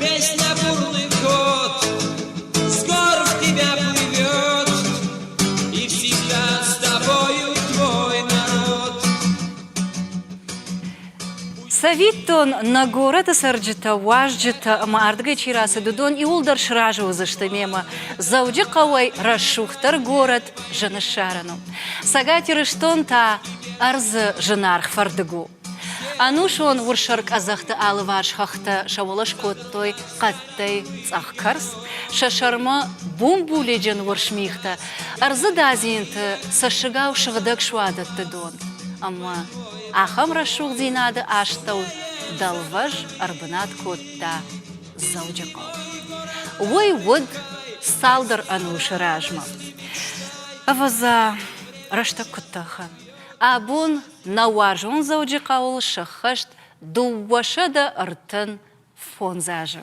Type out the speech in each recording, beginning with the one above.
Песня бурлыкот Скоро тебя плывет И всегда с тобою твой народ Цӕвиттон, нӕ горӕты цӕрджытӕ, уазджытӕ ӕмӕ ардыгӕй чи рацыд, уыдон иууылдӕр сразы уыдзысты мемӕ. Дзӕуджыхъӕуӕй рӕсугъддӕр горӕт зыны ссарӕн у. Цӕгат Ирыстон та ӕрдзы зынаргъ фӕрдыг у. Ӕнусон урсӕркъӕдзӕхты алыварс хӕхтӕ сӕ уӕлӕ скодтой хъӕдтӕй цъӕхкӕрц, сӕ сӕрмӕ бумбулиджын уырсмихтӕ, ӕрдзы дадзинты цӕссыгау сыгъдӕг суадӕтты дон ӕмӕ ахӕм рӕсугъддзинады астӕу дӕлвӕз ӕрбынат кодта Дзӕуджыхъӕу. Уый уыд цалдӕр ӕнусы размӕ. Ӕвӕдза, рӕстӕг куыд тӕхы, абон Нӕ уарзон Дзӕуджыхъӕуыл сыххӕст дыууӕсӕдӕ ӕртын фондз азы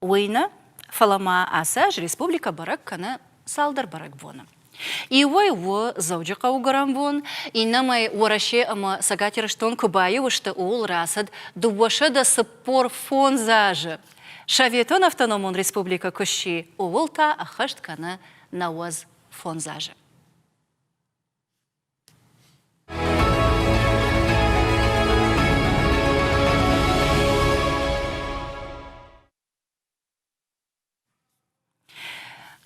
уый нӕ, фӕлӕ ма ацы аз республикӕ бӕрӕг кӕны цалдӕр бӕрӕгбоны. Иуӕй у Дзӕуджыхъӕуы гуырӕнбон, иннӕмӕй Уӕрӕсе ӕмӕ Цӕгат Ирыстон куы баиу сты, ууыл рацыд дыууӕсӕдӕ цыппор фондз азы. Советон автономон республикӕ куы сси, ууыл та ӕххӕст кӕны нӕуӕдз фондз азы.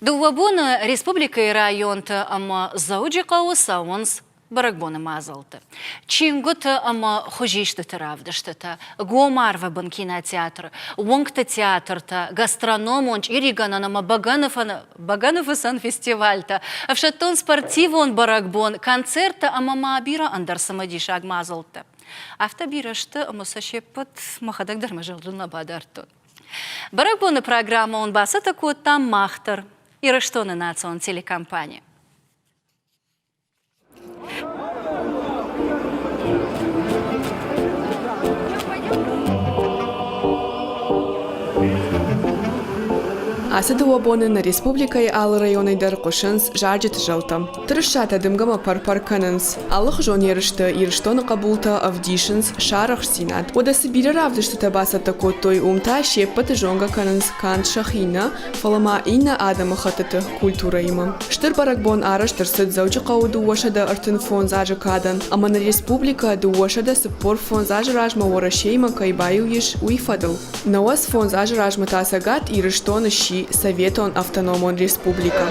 Дыууӕ боны республикӕйы районты ӕмӕ Дзӕуджыхъӕуы цӕуынц бӕрӕгбоны мадзалты. Чингуыты ӕмӕ хуызистыты равдыстытӕ, гомарвӕбын кинотеатры, уынгты театртӕ, гастрономон, чъиригӕнӕн ӕмӕ бӕгӕны фӕны Бӕгӕныфыцӕн фестивальтӕ, ӕфсӕддон-спортивон бӕрӕгбон, концерттӕ ӕмӕ ма бирӕ ӕндӕр цымыдисаг мадзӕлттӕ. Афтӕ бирӕ сты, ӕмӕ сӕ се ппӕт мӕхӕдӕг дӕр мӕ зӕрдыл нӕ бадардтон. Бӕрӕгбоны программӕ уын бацӕттӕ кодтам мах дӕр, Ирыстоны национ телекомпани. Ацы дыууӕ боны нӕ республикӕйы алы районӕй дӕр хъуысынц зарджыты зӕлтӕ. Тырысатӕ дымгӕмӕ пӕр-пӕр кӕнынц. Алыхуызон ерысты Ирыстоны хъӕбултӕ ӕвдисынц сарӕхстдзинад. Уӕдӕ цы бирӕ равдыстытӕ бацӕттӕ кодтой, уым та се ппӕты зонгӕ кӕнынц канд сӕхи нӕ, фӕлӕ ма иннӕ адӕмыхӕттыты культурӕимӕ. Стыр бӕрӕгбон арӕзт ӕрцыд Дзӕуджыхъӕуы дыууӕсӕдӕ ӕртын фондз азы кадӕн ӕмӕ нын республикӕ дыууӕсӕдӕ цыппор фондз азы размӕ Уӕрӕсеимӕ кӕй баиу ис, уый фӕдыл. Науӕд фондз азы размӕ та Цӕгат Ирыстон сси советон автономон республикӕ.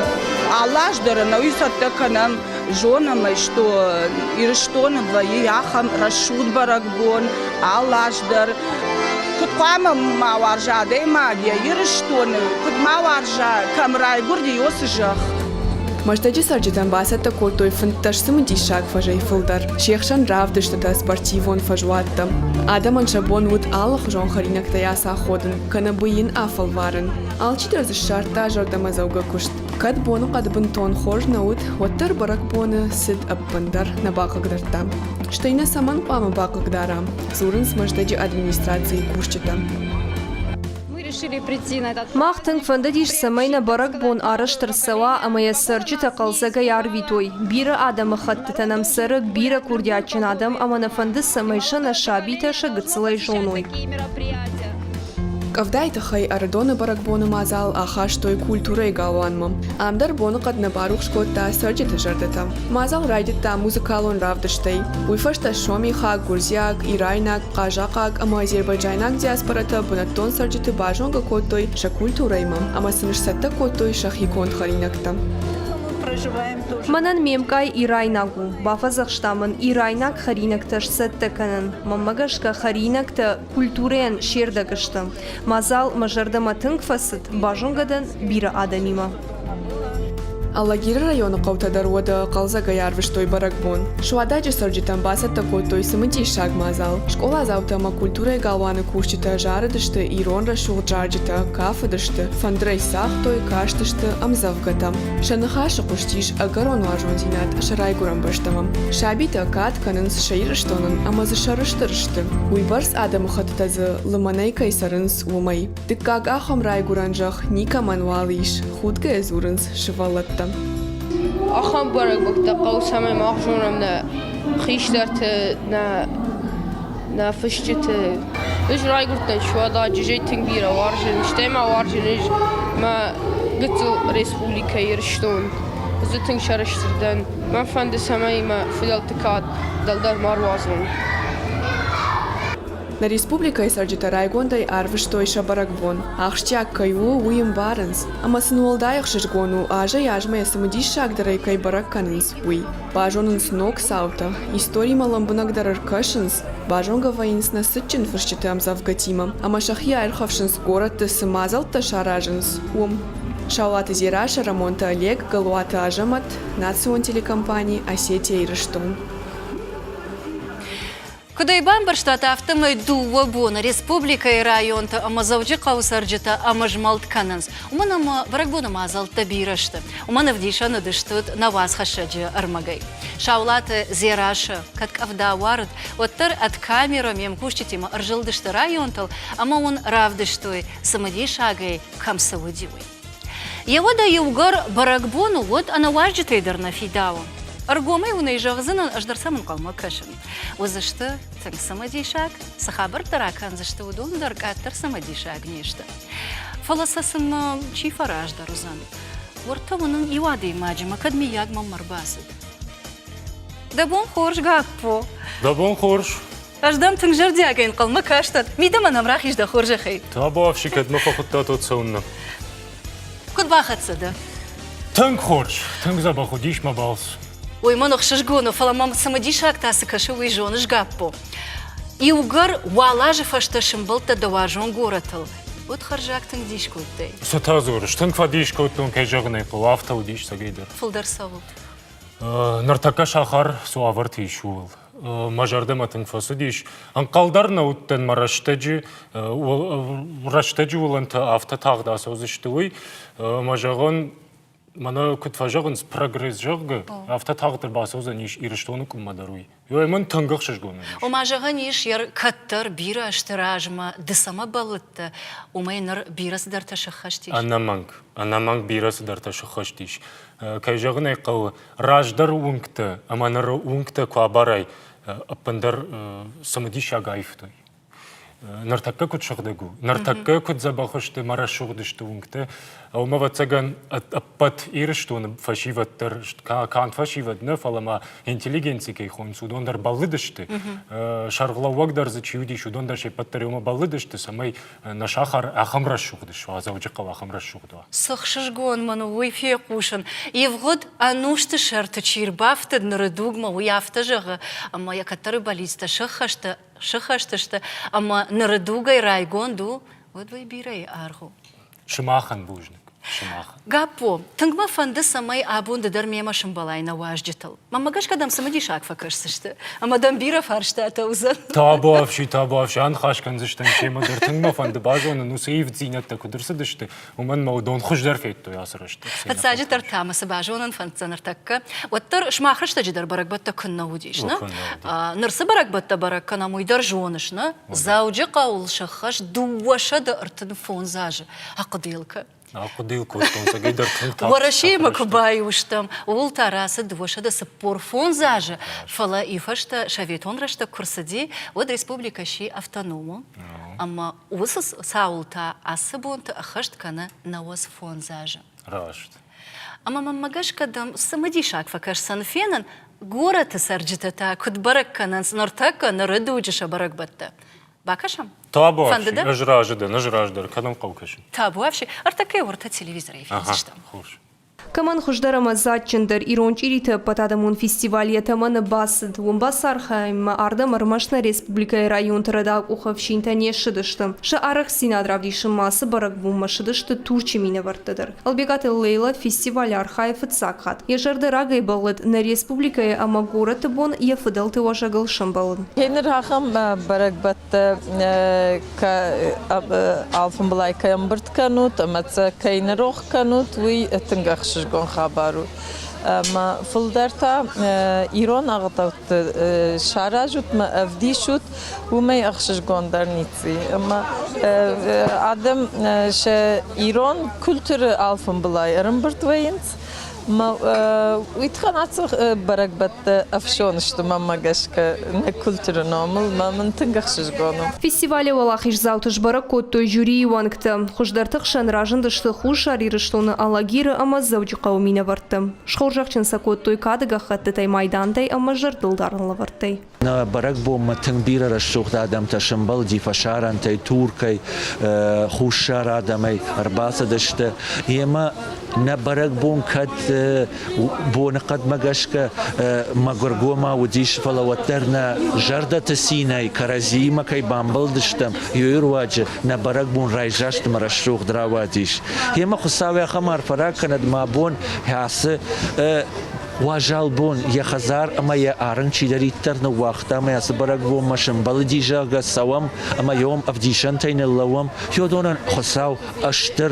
Алы аз дӕр ӕнӕуи цӕттӕ кӕнӕм Зонӕм ӕй, што Ирыстоны вӕййы ахӕм рӕсугъд бӕрӕгбон алы аз дӕр. Куыд хъуамӕ ма уарза адӕймаг йӕ Ирыстоны, куыд ма уарза, кӕм райгуырди, уыцы зӕхх. Мӕстӕджы цӕрджытӕн бацӕттӕ кодтой фынддӕс цымыдисаг фӕзӕй фылдӕр, се хсӕн равдыстытӕ, спортивон фӕзуӕттӕ. Адӕмӕн сӕ бон уыд алыхуызон хӕринӕгтӕй ацаходын, кӕнӕ бый йын афӕлварын. Алчидӕр дзы ссардта зӕрдӕмӕдзӕугӕ куыст. Кӕд боныхъӕд бынтон хорз нӕ уыд, уӕддӕр бӕрӕгбоны цыд ӕппындӕр нӕ бахъыгдардта. Стӕй нӕ цӕмӕн хъуамӕ бахъыгдарӕм? дзурынц Мӕздӕджы администрацийы кусджытӕ. Мах тынг фӕндыдис, цӕмӕй нӕ бӕрӕгбон арӕзт ӕрцӕуа ӕмӕ йӕ цӕрджытӕ хъӕлдзӕгӕй арвитой. Бирӕ адӕмыхӕттытӕ нӕм цӕры, бирӕ курдиатджын адӕм ӕмӕ нӕ фӕнды, цӕмӕй сӕ нӕ сабитӕ сӕ гыццылӕй зоной. Къӕвдайы тыххӕй Ӕрыдоны бӕрӕгбоны мадзал ахастой культурӕйы галуанмӕ. Ам дӕр боныхъӕд нӕ барухс кодта цӕрджыты зӕрдӕтӕ. Мадзал райдыдта музыкалон равдыстӕй. Уый фӕстӕ сомихаг, гуырдзиаг, ирайнаг, хъазахъаг ӕмӕ азербайджайнаг диаспорӕтӕ бынӕттон цӕрджыты базонгӕ кодтой сӕ культурӕимӕ ӕмӕ сын сцӕттӕ кодтой сӕхи конд хӕринӕгтӕ. Мӕнӕн ме мкъай ирайнаг у, бафӕдзӕхста мын ирайнаг хӕринӕгтӕ сцӕттӕ кӕнын. Мӕнмӕ гӕсгӕ хӕринӕгтӕ Культурӕйӕн се рдӕг сты. Мадзал мӕ зӕрдӕмӕ тынг фӕцыд, базонгӕ дӕн бирӕ адӕмимӕ. Алагиры районы хъӕутӕ дӕр уӕдӕ хъӕлдзӕгӕй арвыстой бӕрӕгбон. Суададжы цӕрджытӕн бацӕттӕ кодтой цымыдисаг мадзал. Скъоладзаутӕ ӕмӕ культурӕйы галуаны кусджытӕ зарыдысты ирон рӕсугъд зарджытӕ, кафыдысты, фӕндырӕй цагътой, кастысты ӕмдзӕвгӕтӕм. Сӕ ныхасы хъуыстис ӕгӕрон уарзондзинад сӕ райгуырӕн бӕстӕмӕ. Сабитӕ кад кӕнынц сӕ Ирыстонӕн ӕмӕ дзы сӕрыстыр сты, уыйбӕрц адӕмыхӕттытӕ дзы лымӕнӕй кӕй цӕрынц, уымӕй. Дыккаг ахӕм райгуырӕн зӕхх никӕмӕн уал ис, худгӕйӕ дзурынц сывӕллӕттӕ. Ахӕм бӕрӕгбӕттӕ хъӕу цӕмӕй ма зонӕм нӕ хистӕрты, нӕ нӕ фысджыты. Ӕз райгуырдтӕн Суада, джызӕй тынг бирӕ уарзын, стӕй ма уарзын ӕз мӕ гыццыл республикӕ Ирыстон. Зы тынг сӕрыстыр дӕн. Мӕ фӕнды, цӕмӕй мӕ фыдӕлты кад дӕлдӕр ма руадзон. Нӕ республикӕйы цӕрджытӕ райгондӕй арвыстой сӕ бӕрӕгбон. Ахсджиаг кӕй у, уый ӕмбарынц. Ӕмӕ сын уӕлдай ӕхсызгон у, азӕй азмӕ йӕ цымыдиссагдӕрӕй кӕй бӕрӕг кӕнынц. уый. Базонынц ног цаутӕ, историмӕ лӕмбынӕгдӕр ӕркӕсынц, базонгӕ вӕййынц нӕ цытджын фысджыты ӕмдзӕвгӕтимӕ, ӕмӕ сӕхи аирхӕфсынц горӕтты цы мадзӕлттӕ саразынц, уым. Саулаты Дзерашы, Рӕмонты Олег, Галуаты Азӕмӕт, национ телекомпани «Осетия-Ирыстон». Куыд ӕй бамбӕрстат, афтӕмӕй дыууӕ боны республикӕйы районты ӕмӕ Дзӕуджыхъӕуы цӕрджытӕ ӕмызмӕлд кӕнынц, уымӕн ӕмӕ бӕрӕгбоны мадзӕлттӕ бирӕ сты. Уымӕн ӕвдисӕн уыдыстут нӕ уацхӕссӕджы ӕрмӕгӕй. Саулаты Дзерассӕ кӕд къӕвда уарыд, уӕддӕр ӕд камерӕ ме мкусджытимӕ ӕрзылдысты районтыл ӕмӕ уын равдыстой, цымыдисагӕй кӕм цы уыди, уый. Йеуӕдӕ иугӕр бӕрӕгбон уыд, ӕнӕуазджытӕй дӕр нӕ фидауы. Ӕргомӕй уын ӕй зӕгъдзынӕн, ӕз дӕр сӕм ӕнхъӕлмӕ кӕсын. Уыдзысты тынг цымыдисаг, цы хабӕрттӕ ракӕндзысты, уыдон дӕр къаддӕр цымыдисаг не сты. Фӕлӕ сӕ сын чи фӕраздӕр уыдзӕн? Уырдтӕ уынын иу адӕймаджимӕ, кӕд миййаг мӕм ӕрбацыд. Дӕ бон хорз, Гаппо! Дӕ бон хорз! Ӕз дӕм тынг зӕрдиагӕй ӕнхъӕлмӕ кастӕн. Мидӕмӕ нӕм рахиз дӕ хорзӕхӕй. Табуафси, кӕдмӕ фӕхуыдтат уӕд цӕуыннӕ? Куыд бахӕццӕ дӕ? Тынг хорз, тынг дзӕбӕх уыдис мӕ балц. Уый мын ӕхсызгон у, фӕлӕ мӕм цымыдисаг та цы кӕсы, уый зоныс, Гаппо? Иугӕр уал азы фӕстӕ сӕмбӕлдтӕ дӕ уарзон горӕтыл, уӕд хӕрзаг тынг дис кодтай. Цытӕ дзурыс? Тынг фӕдис кодтон, кӕй зӕгъын ӕй хъӕуы, афтӕ уыдис цӕгӕйдӕр. Фылдӕр цӕуылд? Ныртӕккӕ сахар цы уавӕрты ис, ууыл. Мӕ зӕрдӕмӕ тынг фӕцыдис. Ӕнхъӕл дӕр нӕ уыдтӕн мӕ рӕстӕджы, рӕстӕджы уылӕнтӕ афтӕ тагъд ацӕудзысты, уый. Мӕ зӕгъон, Мӕнӕ куыд фӕзӕгъынц, прогресс, зӕгъгӕ, афтӕ тагъддӕр бацӕудзӕн ис Ирыстоны къуыммӕ дӕр уый. Ёй, мӕн тынг ӕхсызгон уыдис. Ома, зӕгъӕн ис, йӕ кӕддӕр бирӕ ӕзты размӕ ды цӕмӕ бӕллыдтӕ, уымӕй ныр бирӕ цыдӕртӕ сӕххӕст ис? Ӕнӕмӕнг, ӕнӕмӕнг бирӕ цыдӕртӕ сӕххӕст ис. Кӕй зӕгъын ӕй хъӕуы, раздӕр уынгтӕ ӕмӕ ныры уынгтӕ куы абарай, ӕппындӕр цымыдисаг аивтой. Ныртӕккӕ куыд сыгъдӕг у? Ныртӕккӕ куыд дзӕбӕх сты мӕ рӕсугъд сты уынгтӕ. Уымӕ ӕвӕццӕгӕн ӕппӕт Ирыстоны фӕсивӕд дӕр канд фӕсивӕд нӕ, фӕлӕ ма интеллигенци кӕй хонынц, уыдон дӕр бӕллыдысты. Сӕргълӕууӕг дӕр дзы чи уыдис, уыдон дӕр се ппӕт дӕр уымӕ бӕллыдысты, цӕмӕй нӕ сахар ахӕм рӕсугъд суа, Дзӕуджыхъӕу ахӕм рӕсугъд уа. Цы хсызгон мын у уый фехъусын. Ивгъуыд ӕнусты сӕрты чи рбафтыд ныры дугмӕ, уый афтӕ зӕгъы, ӕмӕ йӕ кӕддӕры бӕллицтӕ сӕххӕсты сыххӕст сты ӕмӕ ныры дугӕй райгонд у, уӕд уый бирӕйы аргъ у. Сымахӕн бузныг. Сымах. Гаппо, тынг мӕ фӕнды, цӕмӕй абон ды дӕр мемӕ сымбӕлай нӕ уазджытыл. Мӕнмӕ гӕсгӕ дӕм цымыдисаг фӕкӕсдзысты, ӕмӕ дӕм бирӕ фарстатӕ уыдзӕн. Табуафси, табуафси, аныхас кӕндзыстӕм семӕ дӕр. Тынг мӕ фӕнды базонын, уыцы ивддзинӕдтӕ куыд ӕрцыдысты, уымӕн мӕ уыдон хуыздӕр федтой ацы рӕстӕг. Фыццаджыдӕр та мӕ цы базонын фӕнддзӕн ӕртӕккӕ, уӕддӕр сымах рӕстӕджыдӕр бӕрӕгбӕттӕ куыннӕ уыдис, нӕ? Ныр цы бӕрӕгбӕттӕ бӕрӕг кӕнӕм, уый дӕр зоныс, нӕ? Дзӕуджыхъӕуыл сӕххӕст дыууӕсӕдӕ ӕртын фондз азы. Ахъуыдыйыл Ахъуыдыйыл кодтон цӕгӕй дӕр тынг тагъд. Уӕрӕсеимӕ куы баиу стӕм, ууыл та рацыд дыууӕсӕдӕ цыппор фондз азы, фӕлӕ и фӕстӕ советон рӕстӕг куы рцыди, уӕд республикӕ сси автономон. Ӕмӕ Уыцы цауыл та ацы бонты ӕххӕст кӕны науӕдз фондз азы. Раст. Ӕмӕ мӕнмӕ гӕсгӕ дӕм цымыдисаг фӕкӕсдзӕн фенын, горӕты цӕрджытӕ та куыд бӕрӕг кӕнынц ныртӕккӕ ныры дуджы сӕ бӕрӕгбӕттӕ. Бакӕсӕм? Табуафси, ӕз разы дӕн, ӕз раздӕр кӕнын хъӕукӕсин. Табуафси, ӕртӕкӕй уӕртӕ телевизорӕй фендзыстӕм. Хорз. Кӕмӕн хуыздӕр ӕмӕ дзаджджындӕр ирон чъириты ӕппӕтадӕмон фестиваль йӕ тӕмӕны бацыд, уым бацархайынмӕ ардӕм ӕрмӕст нӕ республикӕйы районты рӕдау-къухы ӕфсинтӕ не ссыдысты. Сӕ арӕхстдзинад равдисын ма ацы бӕрӕгбонмӕ ссыдысты Турчы минӕвӕрттӕ дӕр. Ӕлбегаты Лейла фестиваль архайы фыццаг хатт. Йӕ зӕрдӕ рагӕй бӕллыд, нӕ республикӕйы ӕмӕ горӕты бон йӕ фыдӕлты уӕзӕгыл сӕмбӕлын. Ныр ахӕм бӕрӕгбӕттӕ алфӕмбылай кӕй ӕмбырд кӕнут ӕмӕ сӕ кӕй нырох кӕнут, уый тынг ӕхсызгон хабар у. Ӕмӕ фылдӕр та ирон ӕгъдӕутты саразут мӕ ӕвдисут, уымӕй ӕхсызгондӕр ници. Ӕмӕ адӕм сӕ ирон культуры алфӕмбылай ӕрымбырд вӕййынц, Уитхан аци бӕрӕгбӕттӕ ӕфсон сты мӕмӕ гӕсгӕ нӕ культуры номыл, мӕ мын тынг ӕхсызгон у. Фестивалы уӕлахиздзауты сбӕрӕг кодтой жюрийы уӕнгтӕ. Хуыздӕрты хсӕн разындысты Хуссар Ирыстоны Алагиры ӕмӕ Дзӕуджыхъӕуы минӕвӕрттӕ. Схорзӕхджын сӕ кодтой кады гӕххӕттытӕй, майдантӕй ӕмӕ зӕрдылдарын лӕвӕрттӕй. Нӕ бӕрӕгбонмӕ тынг бирӕ рӕсугъд адӕмтӕ сӕмбӕлди фӕсарӕнтӕй, туркӕй, хуссар адӕмӕй ӕрбацыдысты. Йемӕ нӕ бӕрӕгбон кӕд боныхъӕдмӕ гӕсгӕ мӕгуыргомау уыдис, фӕлӕ уӕддӕр нӕ зӕрдӕты цинӕй кӕрӕдзиимӕ кӕй бамбӕлдыстӕм, ёйы руаджы нӕ бӕрӕгбон райсаст ӕмӕ рӕсугъд рауадис. Йемӕ Хуыцау ахӕм арфӕ ракӕнӕд мӕ бон, кӕцы Уазал бон йӕ хӕдзар ӕмӕ йӕ арын чидӕриддӕр ныууагъта ӕмӕ йӕ цы бӕрӕгбонмӕ сӕмбӕлыди, зӕгъгӕ, цӕуӕм ӕмӕ йӕм ӕвдисӕнтӕй ныллӕууӕм, Феодонӕн Хуыцау ӕстыр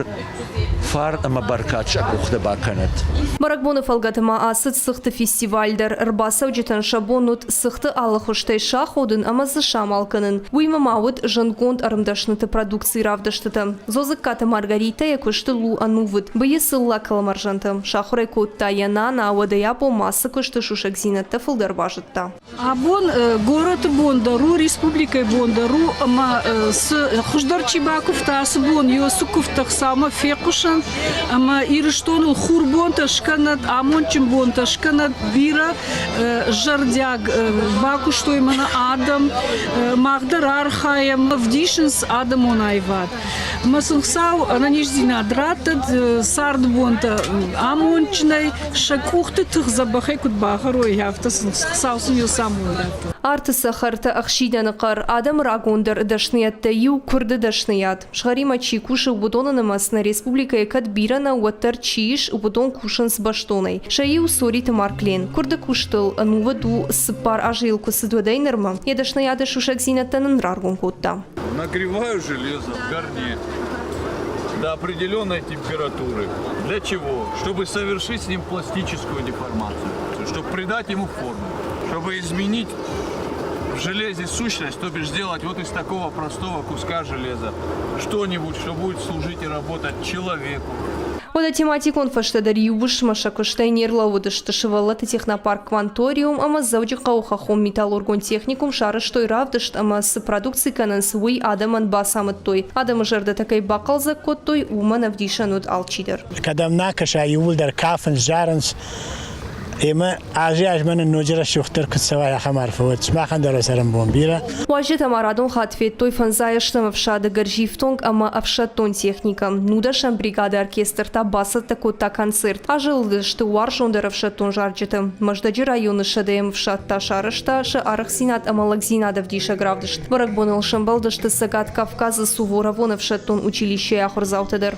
фарн ӕмӕ бӕркад сӕ къухты бакӕнӕд! Бӕрӕгбоны фӕлгӕты ма ацыд цыхты фестиваль дӕр. Ӕрбацӕуджытӕн сӕ бон уыд Цыхты алы хуызтӕй саходын ӕмӕ дзы самал кӕнын. Уыимӕ ма уыд зындгонд ӕрмдӕсныты продукцийы равдыстытӕ. Дзодзыккаты Маргаритӕ йӕ куысты лу ӕнувыд. Быййы цыллӕ кӕлмӕрзӕнтӕ сахуыр ӕй кодта йӕ нана, уӕдӕй абонмӕ ацы куысты сусӕгдзинӕдтӕ фылдӕр базыдта. Абон горӕты бон дӕр у, республикӕйы бон дӕр у ӕмӕ цы хуыздӕр чи бакуывта, ацы бон Иосиф куывдты ӕхцаумӕ фехъусӕнт ӕмӕ Ирыстоныл хурбонтӕ скӕнӕт, амондджын бонтӕ скӕнӕт, бирӕ зӕрдиаг бакуыстой мӕнӕ адӕм, мах дӕр архайӕм, ӕвдисынц адӕмон аивад. Мӕ сын Хуыцау ӕнӕниздзинад раттӕд царды бонтӕ амондджынӕй, сӕ къухты тых дзӕбӕхӕй куыд багъарой, афтӕ Хуыцау сын йыл самой радта. Арты цӕхӕртӕ ӕхсидӕны хъӕр, адӕмы рагондӕр дӕсныйӕдтӕй иу, куырды дӕсныйад. Схӕримӕ чи кусы, уыдоны нымӕц нӕ республикӕйы кӕд бирӕ нӕ, уӕддӕр чи ис, уыдон кусынц бӕстонӕй. Сӕ иу Сориты Марклен. Куырды куыстыл ӕнувыд у, цыппар азы йыл куы цыд уӕдӕй нырмӕ, йӕ дӕсныйады сусӕгдзинӕдтӕ нын раргом кодта. Нагреваю железо в горне до определенной температуры. Для чего? Чтобы совершить с ним пластическую деформацию, чтобы придать ему форму, чтобы изменить В железе сущность, то бишь сделать вот из такого простого куска железа что-нибудь, что будет служить и работать человеку. Ода тематикон фӕстӕдӕр иубысмӕсӕ кустӕй нерлӕууыдысты сывӕллӕтты технопарк Кванториум ӕмӕ Дзӕуджыхъӕуы хӕххон металлургон техникум сарӕзтой равдыст ӕмӕ цы продукци кӕнынц, уый адӕмӕн бацамыдтой. Адӕмы зӕрдӕтӕ кӕй бахъӕлдзӕг кодтой, уымӕн ӕвдисӕн уыд алчидӕр. Кӕдӕм нӕ кӕса, иууылдӕр кафынц, зарынц, Ӕмӕ азы азмӕ нын ноджы рӕсугъддӕр куыд цӕуай, ахӕм арфӕ уӕд сымахӕн дӕр цӕрӕнбон бирӕ. Уазджытӕ ма радон хатт федтой фӕндзайӕстӕм ӕфсады гӕрзифтонг ӕмӕ ӕфсӕддон техникӕ. Нудӕсӕм бригады оркестртӕ бацӕттӕ кодта концерт. Азы лыдысты уарзондӕр ӕфсӕддон зарджыты. Мӕздӕджы районы сӕдӕйӕм ӕфсад та сарӕзта сӕ арӕхдзинад ӕмӕ лӕгдзинад ӕвдисӕг равдыст. Бӕрӕгбоныл сӕмбӕлдысты Цӕгат Кавказы Суворовон ӕфсӕддон училищейы ахуырдзаутӕ дӕр.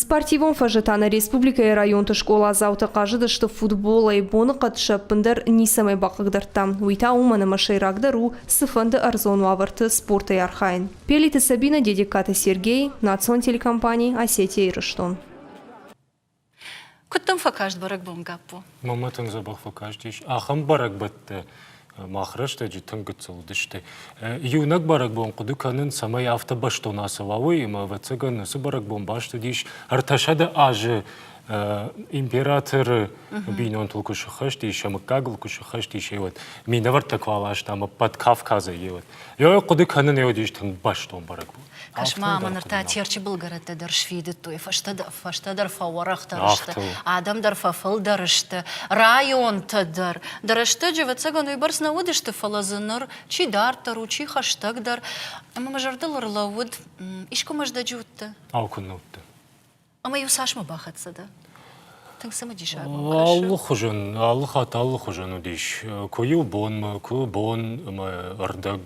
Спортивон фӕзытӕ нӕ республикӕйы районты скъоладзаутӕ хъазыдысты футболӕй, боныхъӕд сӕ ӕппындӕр ницӕмӕй бахъыгдардта. Уый та уымӕн ӕмӕ сӕйрагдӕр у цыфӕнды ӕрдзон уавӕрты спортӕй архайын. Пелиты Сабинӕ, Дедегкаты Сергей, национ телекомпани Осетия-Ирыстон. Куыд дӕм фӕкаст бӕрӕгбон, Гаппо? Мамӕтӕн дзӕбӕх фӕкастис ахӕм бӕрӕгбӕттӕ, мах рӕстӕджы тынг гыццыл уыдысты. Иунӕг бӕрӕгбон хъуыды кӕнын, цӕмӕй афтӕ бӕстон ацӕуа, уый, ӕмӕ ӕвӕццӕгӕн уыцы бӕрӕгбон бастыдис ӕртӕсӕдэ азы императоры бинонтыл куы сыххӕст ис, сӕ мыггагыл куы сыххӕст ис, еуӕд минӕвӕрттӕ куы аласта ӕмӕ ӕппӕт Кавказӕй еуӕд. Йӕ хъуыды кӕнын, еуӕд ис тынг бӕстон бӕрӕгбон. Кӕс-ма, ныр та Терчы былгӕрӕттӕ дӕр сфидыдтой, фӕстӕдӕр фӕуӕрӕхдӕр сты, адӕм дӕр фӕфылдӕр сты, районтӕ дӕр. Дӕ рӕстӕджы, ӕвӕццӕгӕн, уыйбӕрц нӕ уыдысты, фӕлӕ дзы ныр чи дарддӕр у, чи хӕстӕгдӕр. Ӕмӕ мӕ зӕрдыл ӕрлӕууыд, искуы Мӕздӕджы уыдтӕ? Ау, куыннӕ уыдтӕ? Ӕмӕ-иу цасмӕ бахӕццӕ дӕ? Тынг цымыдисагмӕ кӕсы. Алы хуызӕн, алы хатт алы хуызӕн уыдис. Куы иу бонмӕ, куы бон ӕмӕ ӕрдӕг.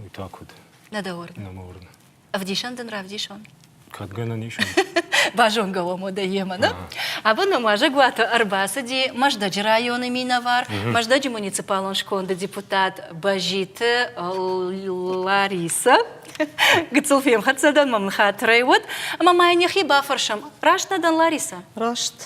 Уый та куыд? Нӕ дӕ уырны? Нӕ мӕ уырны. Ӕвдисӕн дын равдисон? Кӕд гӕнӕн ис? Базонгӕ уӕм уӕдӕ йемӕ, нӕ? Абон мӕм уазӕгуаты ӕрбацыди Мӕздӕджы районы минӕвар, Мӕздӕджы муниципалон сконды депутат Бӕзиты Ларисӕ. Гыццыл фемхӕццӕ дӕн, мӕм ныххатырӕй уыд, ӕмӕ ма йын йӕхи бафӕрсӕм. Раст нӕ дӕн, Ларисӕ? Раст.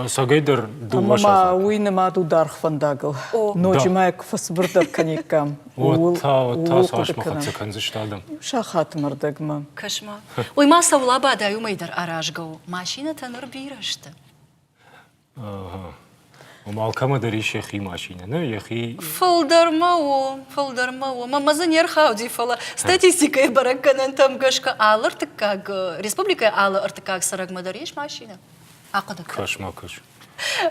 сагайдӕр дыууӕ сахаты. Уый нымад у даргъ фӕндагыл. Ноджы ма куы фӕцыбырдӕр кӕниккам, ууыл хъуыды кӕнӕм. кӕндзысты адӕм. Сахатмӕ рдӕгмӕ. Кӕс-ма. Уый ма сӕ улӕбадӕй уымӕй дӕр аразгӕ у. Машинӕтӕ ныр бирӕ сты. Ом алкӕмӕ дӕр ис йӕхи машинӕ, нӕ? Йӕхи. Фылдӕр ма у, фӕлдӕр ма у, ӕмӕ дзы не рхауди, фӕлӕ статистикӕйы бӕрӕггӕнӕнтӕм гӕсгӕ алы ӕртыккаг республикӕйы алы ӕртыккаг цӕрӕгмӕ дӕр ис машинӕ. Ахъуыды кӕн. Кӕс ма кӕс.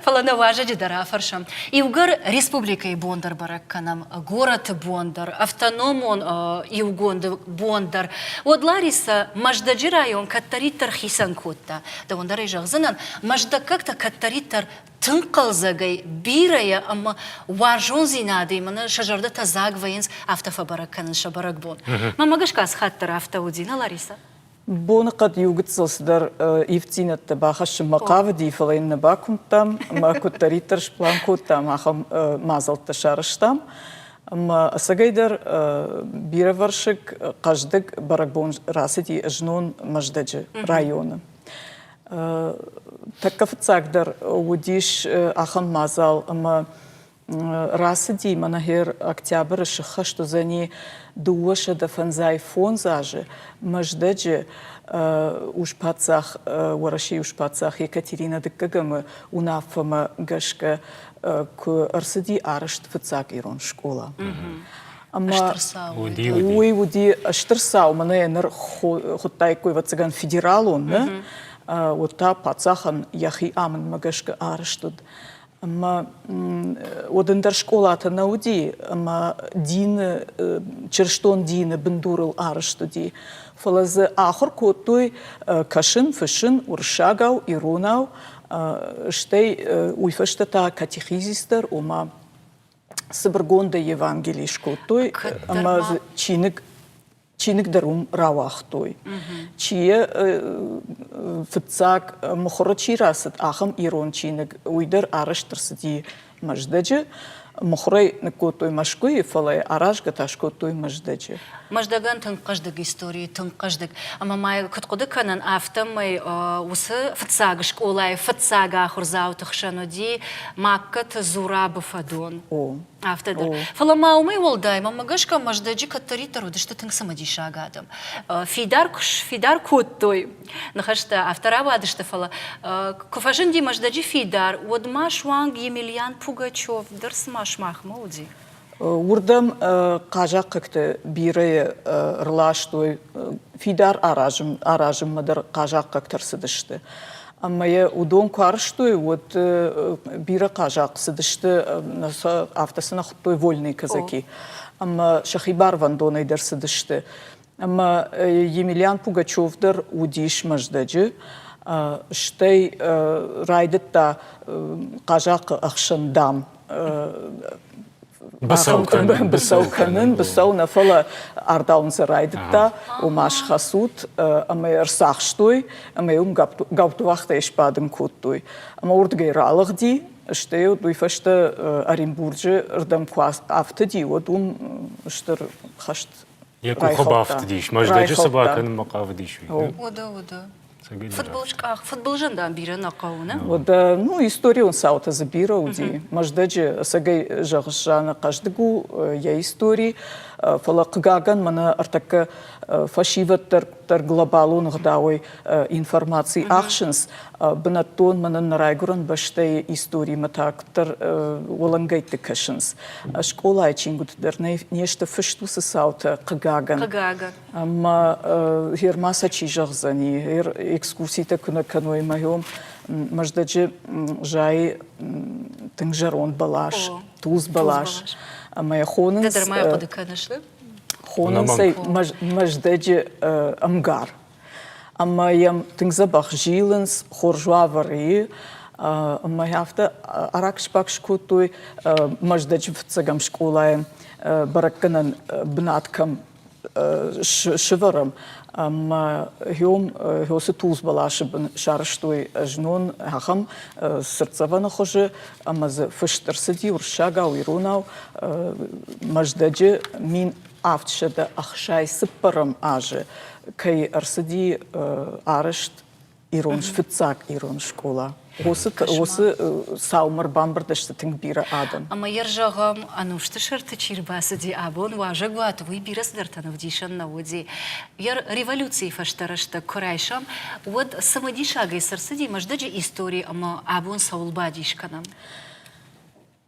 Фӕлӕ нӕ уазӕджы дӕр афӕрсӕм. Иугӕр республикӕйы бон дӕр бӕрӕг кӕнӕм, горӕты бон дӕр, автономон иугонды бон дӕр, уӕд Ларисӕ Мӕздӕджы район кӕддӕриддӕр хицӕн кодта. Дӕуӕн дӕр ӕй зӕгъдзынӕн, мӕздӕггӕгтӕ кӕддӕриддӕр тынг хъӕлдзӕгӕй, бирӕйӕ ӕмӕ уарзондзинадӕй мӕнӕ сӕ зӕрдӕтӕ дзаг вӕййынц, афтӕ фӕбӕрӕг кӕнын сӕ бӕрӕгбон. Мӕнмӕ гӕсгӕ ацы хатт дӕр афтӕ уыди, нӕ, Ларисӕ? Боныхъӕд иу гыццыл цыдӕр ивддзинӕдтӕ бахӕссынмӕ хъавыди, фӕлӕ йын нӕ бакуымдтам ӕмӕ куыддӕриддӕр сплан кодтам, ахӕм мадзӕлттӕ сарӕзтам. Ӕмӕ ӕцӕгӕйдӕр бирӕвӕрсыг, хъӕздыг бӕрӕгбон рацыди знон Мӕздӕджы районы. Тӕккӕ фыццагдӕр уыдис ахӕм мадзал ӕмӕ Рацыди мӕнӕ гъер октябры сыххӕст уыдзӕни дыууӕсӕдӕ фӕндзай фондз азы Мӕздӕджы ус-паддзах, Уӕрӕсейы ус-паддзах Екатеринӕ Дыккӕгӕмы уынаффӕмӕ гӕсгӕ куы ӕрцыди арӕзт фыццаг ирон скъола. Уый уыди стыр цау, мӕнӕ ныр хуыдтаиккой ӕвӕццӕгӕн федералон, нӕ? Уыд та паддзахӕн йӕхи амындмӕ гӕсгӕ арӕзт уыд Ӕмӕ уӕд ӕндӕр скъолатӕ нӕ уыди, ӕмӕ дины, чырыстон дины бындурыл арызт уыди. Фӕлӕ дзы ахуыр кодтой кӕсын, фыссын уырыссагау, иронау, стӕй уый фӕстӕ та катехизис дӕр, ома цыбыргондӕй Евангели скодтой, ӕмӕ дзы чиныг чиныг дӕр уым рауагътой. Чи фыццаг мыхуыры чи рацыд, ахӕм ирон чиныг, уый дӕр арӕзт ӕрцыди Мӕздӕджы. Мыхуырӕй ныккодтой Мӕскуыйы, фӕлӕ аразгӕ та скодтой Мӕздӕджы. Мӕздӕгӕн тынг хъӕздыг истори, тынг хъӕздыг. Ӕмӕ ма куыд хъуыды кӕнын, афтӕмӕй уыцы фыццаг скъолайы фыццаг ахуырдзауты хсӕн уыди Магкаты Зурабы фӕдон. О, Афтӕ дӕр. Фӕлӕ ма уымӕй уӕлдай, мӕмӕ гӕсгӕ Мӕздӕджы кӕддӕриддӕр уыдысты тынг цымыдисаг адӕм. Фидар куы сфидар кодтой, ныхӕстӕ афтӕ рауадысты, фӕлӕ куы фӕзынди Мӕздӕджы фидар, уӕд ма суанг Емельян Пугачев дӕр цыма сымахмӕ уыди. Уырдӕм хъазахъхъӕгты бирӕйӕ ӕрластой, фидар аразынмӕ дӕр хъазахъхъӕгтӕ рцыдысты. Ӕмӕ йӕ уыдон куы арызтой, уӕд бирӕ хъазахъ цыдысты, афтӕ сын хуыдтой вольные казаки. Ӕмӕ сӕхи барвӕндонӕй дӕр цыдысты. Ӕмӕ Емельян Пугачев дӕр уыдис Мӕздӕджы, стӕй райдыдта хъазахъы ӕхсӕн дам Быцӕу кӕнын, быцӕу кӕнын, быцӕу нӕ, фӕлӕ ардауын сӕ райдыдта, ома схӕцут ӕмӕ ӕрцахстой ӕмӕ уым гаптуӕхтӕй сбадын кодтой. Ӕмӕ уырдыгӕй ралыгъди, стӕй уыд уый фӕстӕ Оренбурджы рдӕм куы афтыди, уӕд уым стыр хӕст Йӕ къухы бафтыдис, Мӕздӕджы цы бакӕнынмӕ хъавыдис, уый? Уыды, уыды. Фыдбылызкъах, фыдбылызӕн дам бирӕ нӕ хъӕуы, нӕ? Да, ну, историон цаутӕ дзы бирӕ уыди. Мӕздӕджы сӕгӕй зӕгъыс, Жанна, хъӕздыг у йӕ истори, фӕлӕ, хъыгагӕн, мӕнӕ ӕртӕккӕ фӕсивӕддӕр глобалон ӕгъдауӕй информаци ахсынц. Бынӕттон мӕнӕн нӕ райгуырӕн бӕстӕйы историмӕ та куыддӕр уӕлӕнгӕйтты кӕсынц. Скъолайы чингуыты дӕр не сты фыст уыцы цаутӕ, хъыгагӕн. Хъыгагӕн. Ӕма герма сӕ чи зӕгъдзӕни, экскурситӕ куынӕ кӕной мӕйон, Мӕздӕджы зайы тынг зӕронд бӕлас, тулдз бӕлас. Ӕмӕ хонынц... Дӕ дӕр хъуыды кӕныс? Хонынц ӕй Мӕздӕджы ӕмгар. Ӕмӕ йӕм тынг дзӕбӕх зилынц, хорз уавӕр и. Ӕмӕ афтӕ араксбакс кодтой Мӕздӕджы фыццӕгӕм скъолайӕн бӕрӕггӕнӕн бынат кӕм сывӕрӕм. Ӕмӕ гьом гьосы тулдз бӕласы бын сарызтой знон ахӕм цыртдзӕвӕны хуызы, ӕмӕ дзы фыст ӕрцыди уырыссагау, иронау Мӕздӕджы мин авд сӕдӕ ӕхсай цыппӕрӕм азы кӕй ӕрцыди арӕзт ирон фыццаг ирон скъола. Уыцы уыцы саумӕр бамбырд сты тынг бирӕ адӕм. Ӕмӕ йӕ зӕгъӕм, ӕнусты сӕрты чи рбацыди абон, уазӕгуаты уый бирӕ цыдӕртӕн ӕвдисӕн нӕ уыди. Йӕ революцийы фӕстӕ рӕстӕг куы райсӕм, уӕд цымыдисагӕй цы рцыди Мӕздӕджы истори ӕмӕ абон цӕуыл бадис кӕнӕм?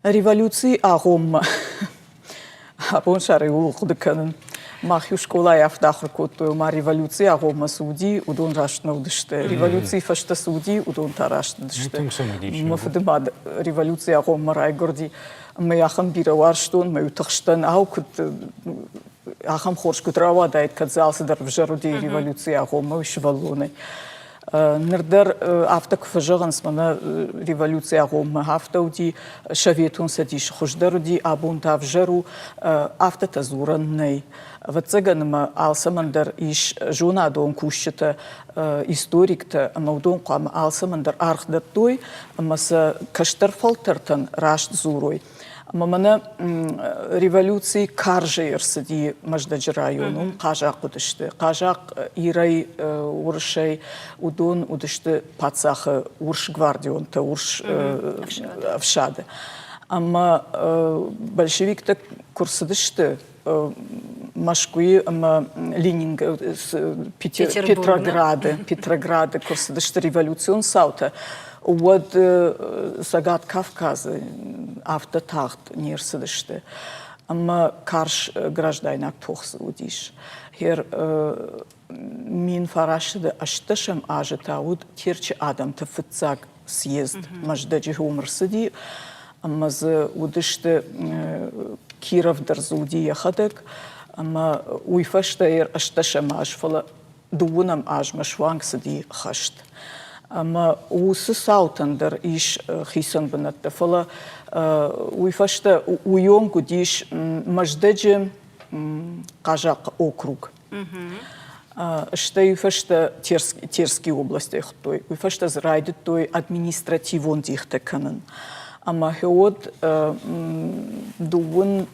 Революцийы агъоммӕ абонсӕрӕй ууыл хъуыды кӕнын. Мах иу скъолайы афтӕ ахуыр кодтой, омӕ революцийы агъоммӕ цы уыди, уыдон раст нӕ уыдысты. Революцийы фӕстӕ цы уыди, уыдон та раст не уыдысты. Мӕ фыдымад революцийы агъоммӕ райгуырди, ӕмӕ ахӕм бирӕ уарзтон, мӕ утыхстӕн, ау, куыд ахӕм хорз куыд рауадаид, кӕд дзы алцыдӕр ӕвзӕр уыди революцийы агъоммӕ, уый сывӕллонӕй. Ныр дӕр афтӕ куы фӕзӕгъынц, мӕнӕ революци агъоммӕ афтӕ уыди, Советон Цӕдис хуыздӕр уыди, абон та ӕвзӕр у, афтӕтӕ дзурӕн нӕй. Ӕвӕццӕгӕн ӕмӕ алцӕмӕн дӕр ис зонадон кусджытӕ, историктӕ ӕмӕ уыдон хъуамӕ алцӕмӕн дӕр аргъ дӕттой ӕмӕ сӕ кӕстӕр фӕлтӕртӕн раст дзурой. Ӕмӕ мӕнӕ революци карзӕй ӕрцыди Мӕздӕджы районом, хъазахъ уыдысты. Хъазахъ ирӕй, уырысӕй, уыдон уыдысты паддзахы урс гвардионтӕ, урс ӕфсады. Ӕмӕ большевиктӕ куы рцыдысты, Мӕскуыйы ӕмӕ Лининг Петрограды Петрограды куы рцыдысты революцион цаутӕ, уӕд Цӕгат Кавказы афтӕ тагъд не рцыдысты ӕмӕ карз граждайнаг тох уыдис. Хер Мин фарасты ӕстдӕсӕм азы та уыд Терчы адӕмты фыццаг съезд. Мӕздӕджы уым рцыди ӕмӕ дзы уыдысты Киров дӕр дзуди йӕхӕдӕг ӕмӕ уый фӕстӕ ӕстдӕсӕм аз, фӕлӕ дыууынӕм азмӕ суанг цыди хӕст. Ӕмӕ уыцы цаутӕн дӕр ис хицӕн бынӕттӕ, фӕлӕ уый фӕстӕ уыйонг уыдис Мӕздӕджы хъазахъхъы округ. Стӕй фӕстӕ Терские области хуыдтой, уый фӕстӕ дзы райдыдтой административон дихтӕ кӕнын. Ӕмӕ гьеуӕд дыууын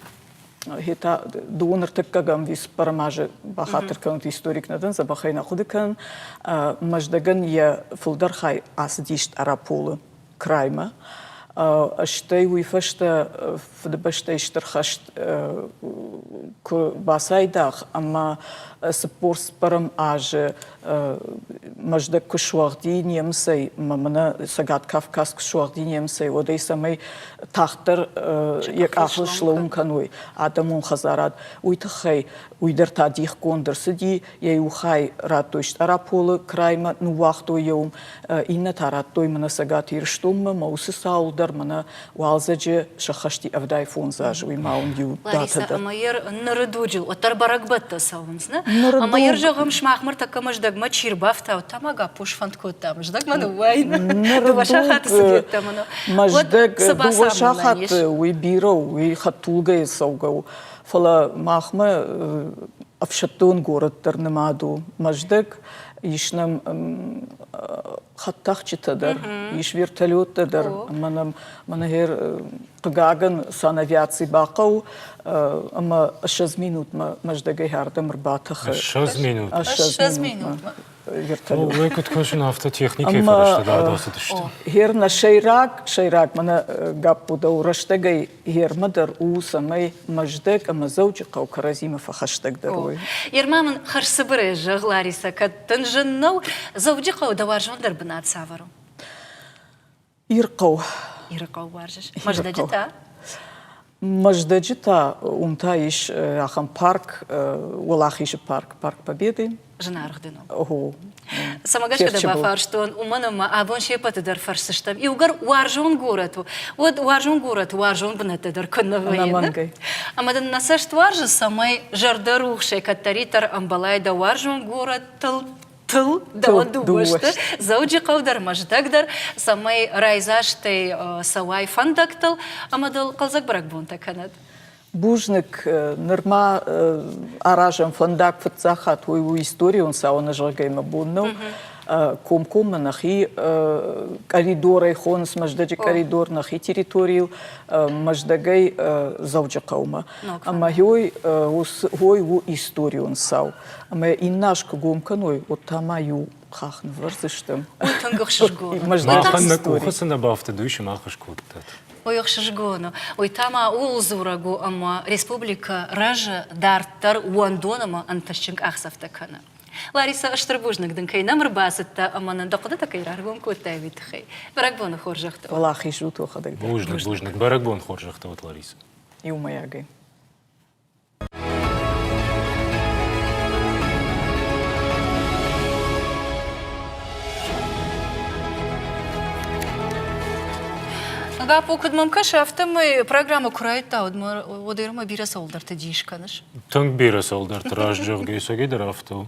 хета дыууын ӕртыккӕгӕм виспӕрм азы бахатыр кӕнут историк нӕ дӕн, забахӕй нӕ хъуыды кӕнын. Мӕздӕгӕн йӕ фылдӕр хай ацыдис Тъараполы. краймӕ. Стӕй уый фӕстӕ Фыдыбӕстӕйы Стыр хӕст куы бацайдагъ ӕмӕ цыппор цыппӕрӕм азы Мӕздӕг куы суӕгъди немыцӕй ӕмӕ мӕнӕ Цӕгат Кавказ куы суӕгъди немыцӕй, уӕдӕй цӕмӕй тагъддӕр йӕ къахыл слӕууын кӕной адӕмон хӕдзарад, уый тыххӕй уый дӕр та дихгонд ӕрцыди Йӕ иу хай радтой Стъараполы краймӕ, ныууагътой йӕ уым, иннӕтӕ радтой мӕнӕ Цӕгат Ирыстонмӕ, мӕ уыцы цауыл дӕр мӕнӕ уалдзӕджы сӕххӕсти ӕвдай фондз азы, уый ма уын иу датӕ дӕр. Ӕмӕ йӕ ныры дуджы уӕддӕр бӕрӕгбӕттӕ цӕуынц, нӕ? Ӕмӕ йӕ зӕгъӕм, сымах мӕ тӕккӕ мӕздӕгмӕ чи рбафтаут, тамагаппу сфӕнд кодта мӕздӕгмӕ ныууайын. Дыууӕ сахаты цыдеттӕ мын. Мӕздӕг дыууӕ сахаты уый бирӕ у, уый хӕдтулгӕйы цӕугӕ у. Фӕлӕ махмӕ ӕфсӕддон город дӕр нымад у Мӕздӕг, ис нӕм хӕдтӕхджытӕ дӕр, ис вертолеттӕ дӕр ӕмӕ нӕм мӕнӕгӕр хъыгагӕн санавиаци бахъӕуы ӕмӕ ссӕдз минутмӕ Мӕздӕгӕй хӕрдӕм ӕрбатӕхы. Ссӕдз минут. Ссӕдз минутмӕ. вертолет. Уый куыд кӕсын, афтӕ техникӕйы фӕрӕзтӕ дӕр ацыдысты. Хер нӕ сӕйраг, сӕйраг мӕнӕ Гаппу дӕу рӕстӕгӕй Ермӕ дӕр у, цӕмӕй Мӕздӕг ӕмӕ Дзӕуджыхъӕу кӕрӕдзимӕ фӕхӕстӕгдӕр уой. Ермӕ мын хӕрзцыбырӕй зӕгъ, Ларисӕ, кӕд дын зын нӕу, Дзӕуджыхъӕуы дӕ уарзондӕр бынат цавӕр у? Ирыхъӕу. Ирыхъӕу уарзыс? Мӕздӕджы та? Мӕздӕджы та уым та ис ахӕм парк, Уӕлахизы парк, парк Победы. зынаргъ дын у. Цӕмӕ гӕсгӕ дӕ бафарстон, уымӕн ӕмӕ абон се пӕты дӕр фӕрсдзыстӕм. Иугӕр уарзон горӕт у, уӕд уарзон горӕты уарзон бынӕттӕ дӕр куыннӕ вӕййы. Ӕмӕ дын нӕ цӕст уарзы, цӕмӕй зӕрдӕрухсӕй кӕддӕриддӕр ӕмбӕлай дӕ уарзон горӕттыл тыл дӕуӕн дыууӕ сты Дзӕуджыхъӕу дӕр, Мӕздӕг дӕр, цӕмӕй райдзастӕй цӕуай фӕндӕгтыл ӕмӕ дыл хъӕлдзӕг бӕрӕгбонтӕ кӕнӕд. Бузныг. Нырма аразӕм фӕндаг фыццаг хатт уый у историон цауыны зӕгъгӕимӕ бон нӕу. Комкоммӕ нӕхи къӕридорӕй хоныс Мӕздӕджы къӕридор, нӕхи территорийыл Мӕздӕгӕй Дзӕуджыхъӕумӕ. Ӕмӕ ой ой у историон цау. Ӕмӕ иннӕ аз куы гом кӕной, уӕд та ма иу хахх нывӕрдзысты. Ой, тынг ӕхсызгон. Махӕн нӕ къухы цы нӕ бафтыд, уый сымахыз кодтат. Ой, ӕхсызгон у. Уый та ма ууыл дзурӕг у, ӕмӕ республикӕ рӕзы дарддӕр уӕндон ӕмӕ ӕнтыстджын къахдзӕфтӕ кӕны. Ларисӕ стыр бузныг дын кӕй нӕм ӕрбацыдтӕ ӕмӕ нын дӕ хъуыдытӕ кӕй раргом кодтай, уый тыххӕй. Бӕрӕгбоны хорзӕхтӕ. Уӕлахиз у тохадӕг. Бузныг, бузныг. Бӕрӕгбон хорзӕхтӕ уӕд, Ларисӕ. Иумӕйагӕй. Лапо, куыд мӕм кӕсы, афтӕмӕй программӕ куы райдта, уӕд уӕдӕй бирӕ цӕуылдӕрты дис кӕныс? Тынг бирӕ цӕуылдӕрты раст зӕгъгӕ, сагидӕр афтӕ у.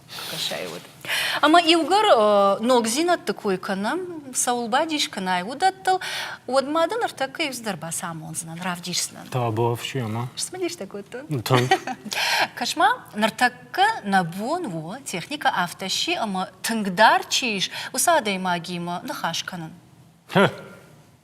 фӕкӕсай уӕд. Ӕмӕ иугӕр ногдзинӕдты кой кӕнӕм, цӕуыл бадис кӕнай, уыдӕттыл, уӕд ма дын ӕртӕккӕ иуцыдӕр бацамондзынӕн, равдисдзынӕн. Табуафси ӕмӕ. Смыдистӕ кодтон. Кӕс-ма, ныртӕккӕ нӕ бон у техникӕ афтӕ сси, ӕмӕ тынгдӕр чи ис, уыцы адӕймагимӕ ныхас кӕнын.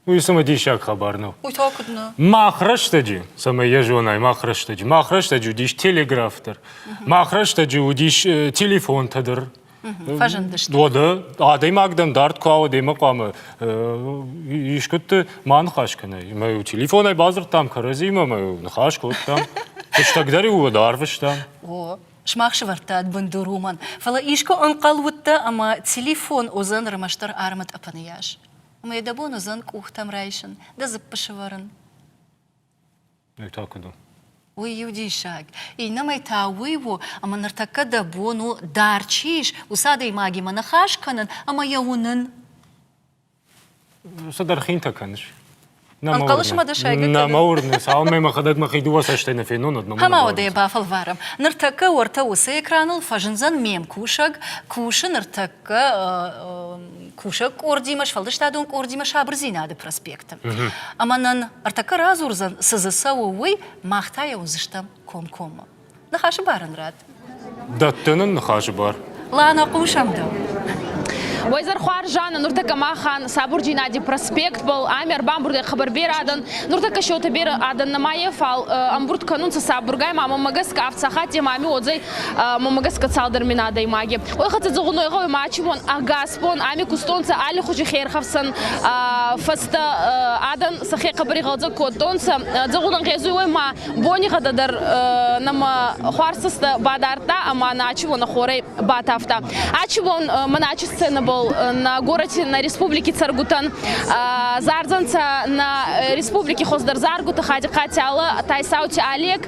Уый цымӕ диссаг хабар нӕу? Уый та куыд нӕ? Мах рӕстӕджы, цӕмӕй йӕ зонай, мах рӕстӕджы, мах рӕстӕджы уыдис телеграф дӕр, мах рӕстӕджы уыдис э, телефонтӕ дӕр. Фӕзындысты. Уӕдӕ адӕймаг дӕн дард куы ауад ӕмӕ хъуамӕ э, искуыдты ма ныхас кӕнай. Ӕмӕ телефонӕй бадзырдтам кӕрӕдзимӕ, ӕмӕ ныхас кодтам. Фыстӕг дӕр-иу уӕд арвыстам. О, Сымах сывӕрдтат бындур уымӕн, фӕлӕ искуы ӕнхъӕл уыдтӕ, ӕмӕ телефон уыдзӕн рмӕстдӕр армы тъӕпӕны йас? Ӕмӕ дӕ бон уыдзӕн къухтӕм райсын, дӕ дзыппы сывӕрын? Уый та куыд у? Уый у диссаг. Иннӕмӕй та уый у, ӕмӕ ныртӕккӕ дӕ бон у, дӕр чи ис, уыцы адӕймагимӕ ныхас кӕнын ӕмӕ йӕ уынын. Цыдӕр хинтӕ кӕныс. Ӕнхъӕлыс мӕ дӕ сайгӕ Нӕ мӕ уырны, цалынмӕ мӕхӕдӕг мӕхи дыууӕ цӕстӕй нӕ фенон, уӕдмӕ Ӕмӕ уӕдӕй бафӕлварӕм. Ныртӕккӕ уӕртӕ уыцы экраныл фӕзындзӕн ме мкусӕг, кусы ныртӕккӕ кусӕг къордимӕ, сфӕлдыстадон къордимӕ Сабырдзинады проспекты. Ӕмӕ нын ӕртӕккӕ радзурдзӕн, цы дзы цӕуы, уый, мах та йӕ уыдзыстӕм комкоммӕ. Ныхасы бар ын рад. Дӕттын ын ныхасы бар. Лана, хъусӕм дӕу. Уайзархуар Жанна, нуртӕккӕ махӕн сабур Геннадий проспект был, ами ӕрбамбурдӕй хабар берадӕн, нуртӕккӕ сеутӕ берӕ адӕн нӕмайе, фал ӕмбурд кӕнунцӕ сабургай, ма мӕмӕ гӕсгӕ ӕфцахатте мами одзӕй мӕмӕ гӕсгӕ цалдӕр мин адӕймаге. Ой хӕццӕ дзугъуной гъӕуи мачимон ӕгасбон ами кустонцӕ алли хузи херхӕфсӕн фӕстӕ адӕн сӕхе хъӕбӕригъӕдзӕ кодтонцӕ. Дзӕгъулӕн гъезуй уой ма бонигъӕдӕ дӕр нӕмӕ хуарцӕстӕ бадардта ӕма Начи уонӕ хорӕй батавта. Ачи бон ма Начи сценӕбӕл на городе, на республики цӕргутӕн зардзӕнцӕ, на республики хоздӕр заргута Хадихъати Ала, Тайсаути Олег,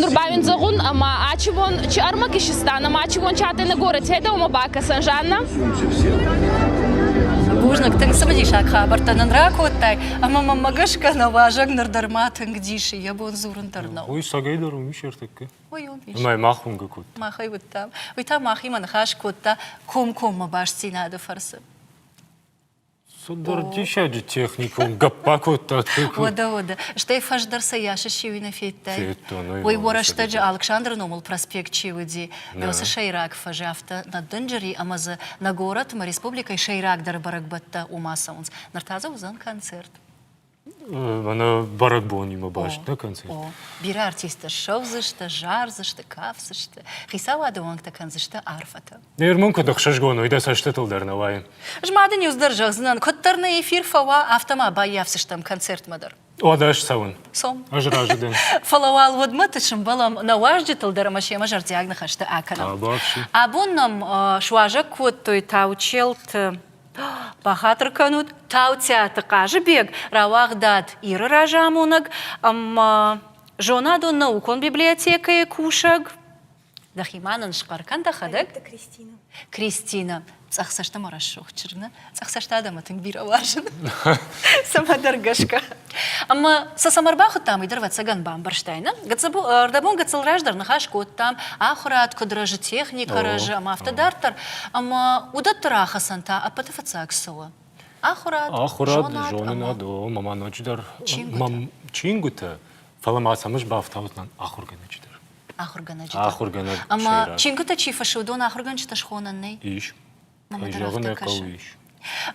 Нур ба ин зӕгъун, ӕма ачивон чи ӕрмӕг исиста, ӕма ачивон чатӕй на горӕти айдӕумӕ бакӕсӕн, Жанна? Бузныг, тынг цымыдисаг хабӕрттӕ нын ракодтай, ӕмӕ мӕммӕ гӕсгӕ нӕ уазӕг ныр дӕр ма тынг дисы, йӕ бон дзурын дӕр нӕу. Уый сагӕй дӕр уым ис ӕртӕккӕ. Ой, уым ис. Ӕмӕ мах уынгӕ кодта. Мах ӕй уыдтам. Уый та мӕхимӕ ныхас кодта комкоммӕ бастдзинады фӕрцы. Цыдӕр диссаджы техникон гӕпп бакодта Текун. Уӕдӕ, уӕдӕ. Стӕй фӕздӕр сӕ йасы сиуи нӕ федтай? Федтон, ой, уый уӕ рӕстӕджы Алыксандры номыл проспект чи уыди, уыцы сӕйраг фӕзы афтӕ нӕ дынджыри ӕмӕ дзы нӕ горӕтмӕ, республикӕйы сӕйрагдӕр бӕрӕгбӕттӕ уымӕ цӕуынц. Ныр та дзы уыдзӕн концерт. Мӕнӕ бӕрӕгбонимӕ баст нӕ концерт. Бирӕ артисттӕ ссӕудзысты, зардзысты, кафдзысты, хицауады уӕнгтӕ кӕндзысты арфӕтӕ. Нӕ ирмон куыд ӕхсызгон уой, дӕ цӕстытыл дӕр нӕ уайын. Ӕз мады ниуз дӕр зӕгъдзынӕн, куыддӕр нӕ эфир фӕуа, афтӕ ма баййафдзыстӕм концертмӕ дӕр. Уӕдӕ ӕз цӕуын. Цом. Ӕз разы дӕн. Фӕлӕ уал уӕдмӕ тынг сымбӕлӕм нӕ уазджытыл дӕр ӕмӕ семӕ зӕрдиаг ныхӕстӕ акӕнӕм. Абӕхсы. Абон нӕм суазӕг кодтой Таучелты Бахатыр кӕнут, Таутиаты Хъазыбег рауагъдад Иры разамонӕг ӕмӕ зонадон наукон библиотекӕйы кусӕг. Дӕхимӕ нын схъӕр кӕн дӕхӕдӕг. Кристина. Кристина, цъӕх цӕстӕмӕ рӕсугъд чырны, цъӕх цӕст адӕмы тынг бирӕ уарзын. Цӕмӕдӕр гӕсгӕ. Ӕмӕ сӕ цӕмӕ ӕрбахуыдтам, уый дӕр ӕвӕццӕгӕн бамбӕрстай, нӕ? Гыццыл, ӕрдӕбон гыццыл раздӕр ныхас кодтам, ахуырад куыд рӕзы, техникӕ рӕзы ӕмӕ афтӕ дарддӕр, ӕмӕ уыдӕтты рахӕцӕн та ӕппӕты фыццаг цы у? Ахуырад, ахуырад, зонад, зонынад, о, мӕ ноджыдӕр чингуытӕ, фӕлӕ ма сӕм ӕз бафтаудтӕн ахуыргӕнӕджы дӕр. Ахуыргӕнӕджы дӕр. Ахуыргӕнӕг ӕмӕ чингуытӕ чи фыссы, уыдон ахуыргӕнджытӕ схонӕн нӕй? Ис. зӕгъын ӕй хъӕуы ис.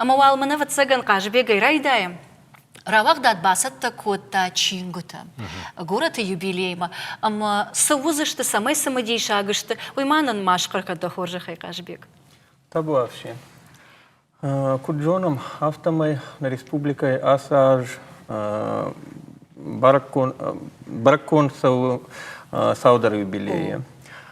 Ӕмӕ уал мын, ӕвӕццӕгӕн, Хъазыбегӕй райдайӕм. Рауагъдад бацӕттӕ кодта чингуытӕ горӕты юбилеймӕ ӕмӕ цы уыдзысты, цӕмӕй цымыдисаг сты, уый ма нын ма схъӕр дӕ хорзӕхӕй, Хъазыбег. Табуафси. Куыд зонӕм, афтӕмӕй нӕ республикӕйы ацы аз бӕрӕггонд цӕуы саудары юбилейы.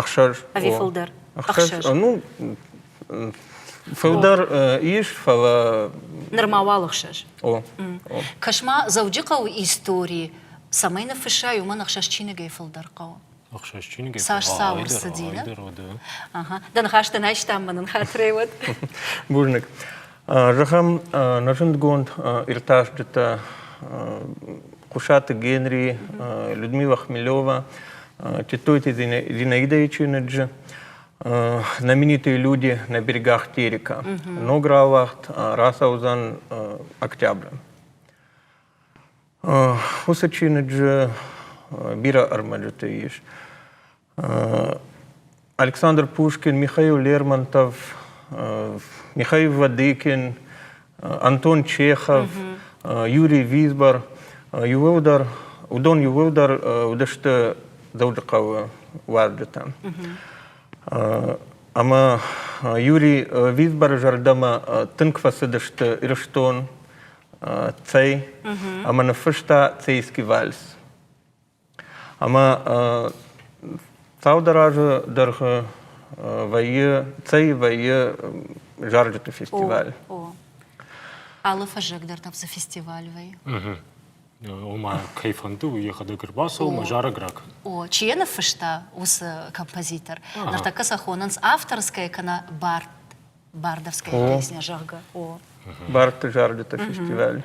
ӕхсӕз ӕви фылдӕр ӕхсӕз ну фылдӕр ис фӕлӕ нырма уал ӕхсӕз о кӕс-ма дзӕуджыхъӕуы истори цӕмӕй ныффысса уымӕн ӕхсӕз чиныгӕй фылдӕр хъӕуы ӕхсӕз чиныгӕй цас цауы рцыди дӕ ныхас дын айстам мӕ нын хатырӕй уӕд бузныг Зӕгъӕм, нӕ зындгонд иртасджытӕ Хъуысаты Генри, Людмила Хмелева, Титойти Зинаида Ичиныджы «Знаменитые люди на берегах Терека», «Ногра Аллахт», «Расаузан Октября». Уыцы чиныджы бирӕ ӕрмӕджыты ис. Александр Пушкин, Михаил Лермонтов, Михаил Вадыкин, Антон Чехов, Юрий Висбор, иууылдӕр, уыдон иууылдӕр уыдысты Дзӕуджыхъӕуы уазджытӕ. Ӕмӕ Юрий Висборы зӕрдӕмӕ тынг фӕцыдысты Ирыстон, Цӕй, ӕмӕ ныффыста Цейский вальс. Ӕмӕ цалдӕр азы дӕргъы вӕййы, цӕй вӕййы зарджыты фестиваль. О. Алы фӕззӕг дӕр там цы фестиваль вӕййы? Ома, кӕй фӕнды, уый йӕхӕдӕг ӕрбацӕуы мӕ зарӕг ракӕны. О, чи йӕ ныффыста уыцы композитор? Ныртӕккӕ сӕ хонынц авторскӕйӕ кӕнӕ бард Бардовская песня, зӕгъгӕ. О. Бардты зарджыты фестиваль.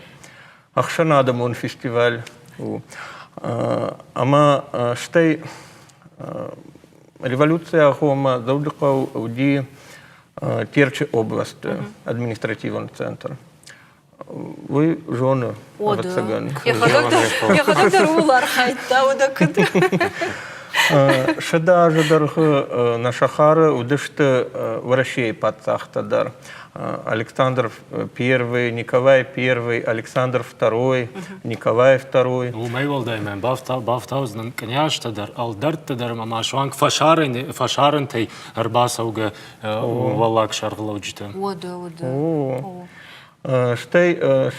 Ӕхсӕнадӕмон фестиваль у. Ӕмӕ стӕй революцийӕ хомӕ Дзӕуджыхъӕу уыди Терчы областы административон центр. Уый зоны. Ӕвӕццӕгӕн. Йӕхӕдӕг дӕр ууыл архайдта уӕдӕ куыд? Сӕдӕ азы дӕргъы нӕ сахары уыдысты Уӕрӕсейы паддзӕхтӕ дӕр. Александр I, Николай I, Александр II, Николай II. Уымӕй уӕлдай мӕ бафтаудзынӕн кънйӕзтӕ дӕр, ӕлдӕртты дӕр ӕмӕ ма суанг фӕсарӕнтӕй ӕрбацӕугӕ уӕллаг сӕргълӕуджытӕ. Уӕдӕ, уӕдӕ. Стӕй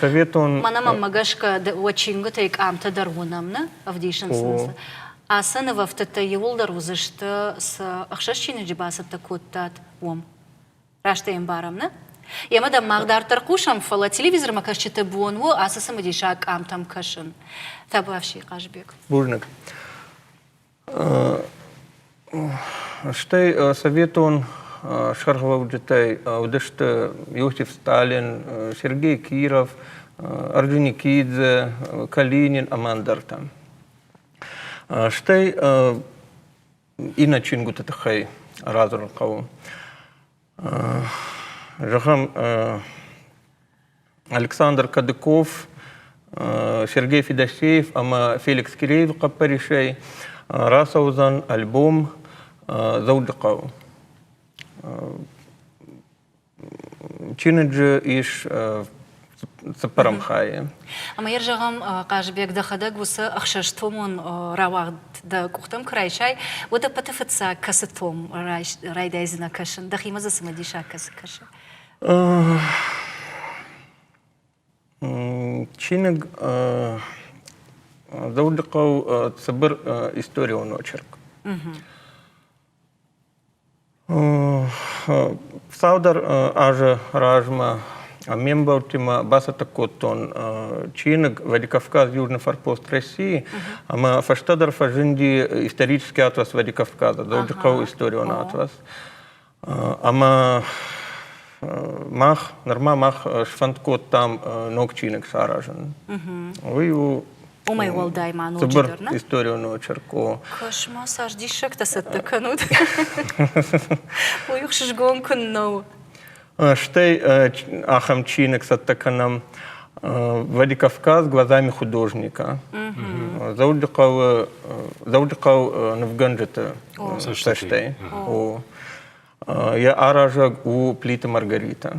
советон... Мӕнӕ гӕсгӕ уӕ чингуытӕй къамтӕ дӕр уынӕм, нӕ? Ӕвдисынц сын Ацы нывӕфтыдтӕ иууылдӕр уыдзысты, цы ӕхсӕз чиныджы бацӕттӕ кодтат, уым. Раст ӕй ӕмбарӕм, нӕ? Емӕ дӕм мах дарддӕр хъусӕм, фӕлӕ телевизормӕ кӕсджыты бон у ацы цымыдисаг къамтӕм кӕсын. Табуафси, Хъазбег. Бузныг. Стӕй советон сӕргълӕуджытӕй уыдысты Иосиф Сталин, Сергей Киров, Орджоникидзе, Калинин ӕмӕ ӕндӕртӕ. Стӕй иннӕ чингуыты тыххӕй радзурын хъӕуы. Зӕгъӕм, Александр Кадыков, Сергей Федосеев ӕмӕ Феликс Киреевы хъӕппӕрисӕй рацӕудзӕн альбом Дзӕуджыхъӕуы. Чиныджы ис цыппӕрӕм хайы. Ӕмӕ йӕ зӕгъӕм, Хъазыбег, дӕхӕдӕг уыцы ӕхсӕзтомон рауагъд дӕ къухтӕм куы райсай, уӕд ӕппӕты фыццаг кӕцы том райдайдзынӕ кӕсын? Дӕхимӕ дзы цымыдисаг кӕцы кӕсы? Чиныг Дзӕуджыхъӕу цыбыр историон очерк. Цалдӕр азы размӕ ме мбӕлттимӕ бацӕттӕ кодтон чиныг Владикавказ южный форпост России ӕмӕ фӕстӕдӕр фӕзынди исторический атлас Владикавказа Дзӕуджыхъӕуы историон атлас. Ӕмӕ мах нырма мах сфӕнд кодтам ног чиныг саразын. Уый у Уымӕй уӕлдай ма ноджыдӕр нӕ? историон очерк у. Кошмар, цардиссӕгтӕ цӕттӕ кӕнут? Уый ӕхсызгон куыннӕ у. Стӕй ахӕм чиныг цӕттӕ кӕнӕм Владикавказ глазами художника. Дзӕуджыхъӕуы Дзӕуджыхъӕу нывгӕнджыты цӕстӕй. Йӕ аразӕг у Плиты Маргарита.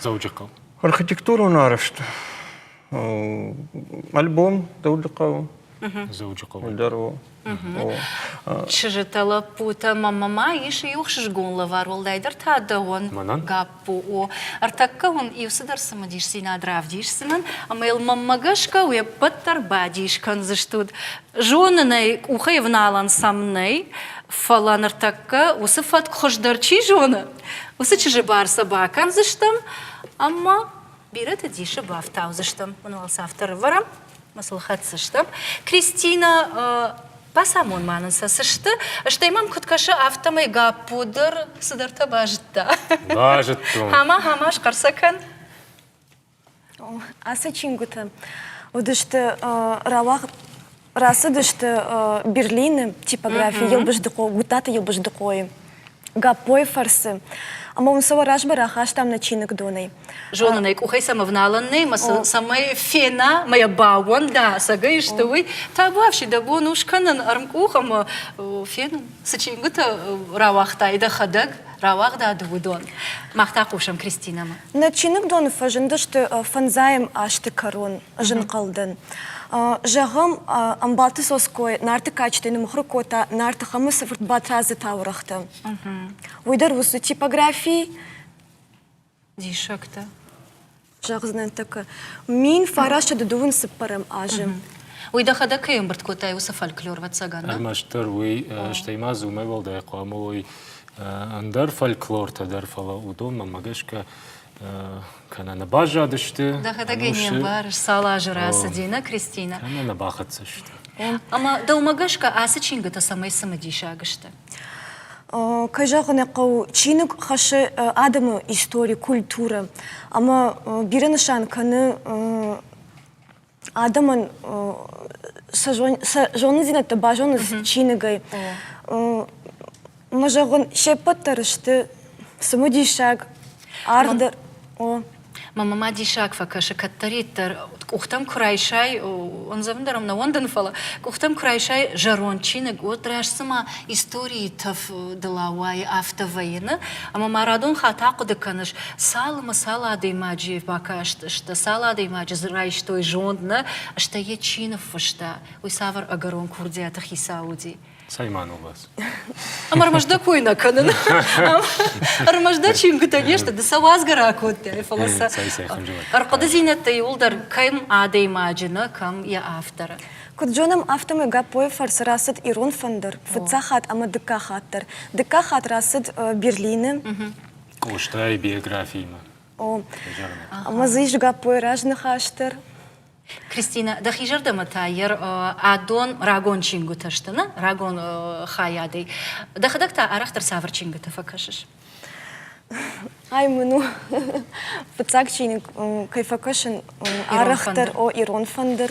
Дзӕуджыхъӕу. Архитектурон арӕзт альбом Дзӕуджыхъӕуы. Дзӕуджыхъӕуы дӕр у. Чызджытӕ, лӕппутӕ, мамӕ ис иу хсызгон лӕвар, уӕлдайдӕр та дӕуӕн, Гаппо. О, ӕртӕккӕ уын иу цыдӕр цымыдисдзинад равдисдзынӕн, ӕмӕ йыл мӕнмӕ гӕсгӕ уе ппӕт дӕр бадис кӕндзыстут. Зонын ӕй, къухӕй ӕвналӕн сӕм нӕй, фӕлӕ ныртӕккӕ уыцы фӕтк хуыздӕр чи зоны, Уыцы чызджы бар сӕ бакӕндзыстӕм ӕмӕ бирӕты дисы бафтаудзыстӕм. Уын уӕлсӕф дӕр ӕвӕрӕм, мӕ сыл хӕцдзыстӕм. Кристинӕ, бацамон ма нын сӕ цы сты, стӕй мӕм куыд кӕсы, афтӕмӕй Гаппо дӕр цыдӕртӕ базыдта. Базыдтон. Ама-ама, схъӕр сӕ кӕн. Ацы чингуыты уыдысты рауагъд рацыдысты Берлины типографи Елбыздыхъо Гутаты Елбыздыхъойы Гаппойы фӕрцы. Ӕмӕ уын сӕ уӕ размӕ рахастам нӕ чиныгдонӕй. Зонын ӕй, къухӕй сӕм ӕвналӕн нӕй, мӕ сыл цӕмӕй фена, мӕ йӕ баууӕн, да, цӕгӕй сты уый. Табуафси, дӕ бон у скӕнын ӕрмкъух ӕмӕ фенын, цы чингуытӕ рауагътай дӕхӕдӕг. рауагъдад уыдон. Мах та хъусӕм Кристинӕмӕ. Нӕ чиныгдоны фӕзындысты фӕндзайӕм азты кӕрон зынхъӕлдӕн. Зӕгъӕм, Ӕмбалты Цоцкой Нарты кадджытӕй нымыхуыр кодта Нарты Хӕмыцы фырт Батрадзы таурӕгътӕ. Уый дӕр у цы типографи? Диссӕгтӕ. Зӕгъ знӕнттӕ кӕ. Мин фарасты дыдуын цыппӕрӕм азы. Уый дӕхӕдӕг кӕй ӕмбырд кодтай, уыцы фольклор вӕццӕгӕн? Ӕрмӕстдӕр уый, стӕй ма дзы уымӕй уӕлдай хъуамӕ уой ӕндӕр фольклортӕ дӕр, фӕлӕ уыдонмӕ-мӕ гӕсгӕ кӕнӕ нӕ баззадысты. Дӕхӕдӕг ӕй не мбарыс, цал азы рацыди, нӕ, Кристинӕ? Кӕнӕ нӕ бахӕццӕ сты. Ӕмӕ дӕумӕ гӕсгӕ ацы чингуытӕ цӕмӕй цымыдисаг сты? Кӕй зӕгъын ӕй хъӕуы, чиныг хӕссы адӕмы истори, культурӕ ӕмӕ бирӕ нысан кӕны адӕмӕн сӕ зонындзинӕдтӕ базоныц чиныгӕй. Мӕ зӕгъын, се ппӕт дӕр сты цымыдисаг, аргъ дӕр. Мамӕ ма диссаг фӕкӕсы, кӕддӕриддӕр къухтӕм куы райсай, ӕндзӕвын дӕр ӕм нӕ уӕндын, фӕлӕ къухтӕм куы райсай зӕронд чиныг, уӕд раст цыма историйы тӕф дыл ауайы, афтӕ вӕййыны. Ӕмӕ ма радон хатт ахъуыды кӕныс, цалынмӕ цал адӕймаджы бакастысты, цал адӕймаджы дзы райстой зонд нӕ, стӕй йӕ чи ныффыста, уый цавӕр ӕгӕрон курдиаты хицау уыди. Саймановас. Ӕмӕ ӕрмӕст дӕ кой нӕ кӕнын. Ӕрмӕст дӕ чингуытӕ не сты, ды сӕ уадзгӕ ракодтай, фӕлӕ сӕ ӕрхъуыдызинӕдтӕ иуылдӕр кӕм адӕймаджы нӕ, кӕм йӕ авторы. Куыд зонӕм, афтӕмӕй Гаппойы фӕрцы рацыд ирон фӕндыр фыццаг хатт ӕмӕ дыккаг хатт дӕр. Дыккаг хатт рацыд Берлины. Къостайы биографиимӕ. О, ӕмӕ дзы ис Гаппойы разныхас дӕр. Кристинӕ, дӕхи зӕрдӕмӕ та йӕ адон рагон чингуытӕ сты, нӕ? Рагон хайадӕй. Дӕхӕдӕг та арӕхдӕр цавӕр чингуытӕ фӕкӕсыс? Ай мын у фыццаг чиныг, кӕй фӕкӕсын, арӕхдӕр о ирон фӕндыр.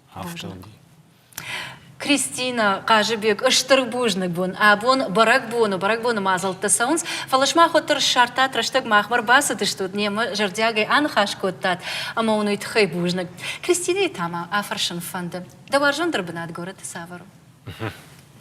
Кристина Хъазыбек стыр бузныг бон абон бӕрӕгбоны бӕрӕгбоны мадзӕлтты цӕуынц, фӕлӕ сымах уӕддӕр ссардтат рӕстӕг махмӕ ӕрбацыдыстут, немӕ зӕрдиагӕй аныхас кодтат ӕмӕ уын уый тыххӕй бузныг. Кристинайы та мӕ афӕрсын фӕнды, дӕ уарзондӕр бынат горӕты цавӕр у?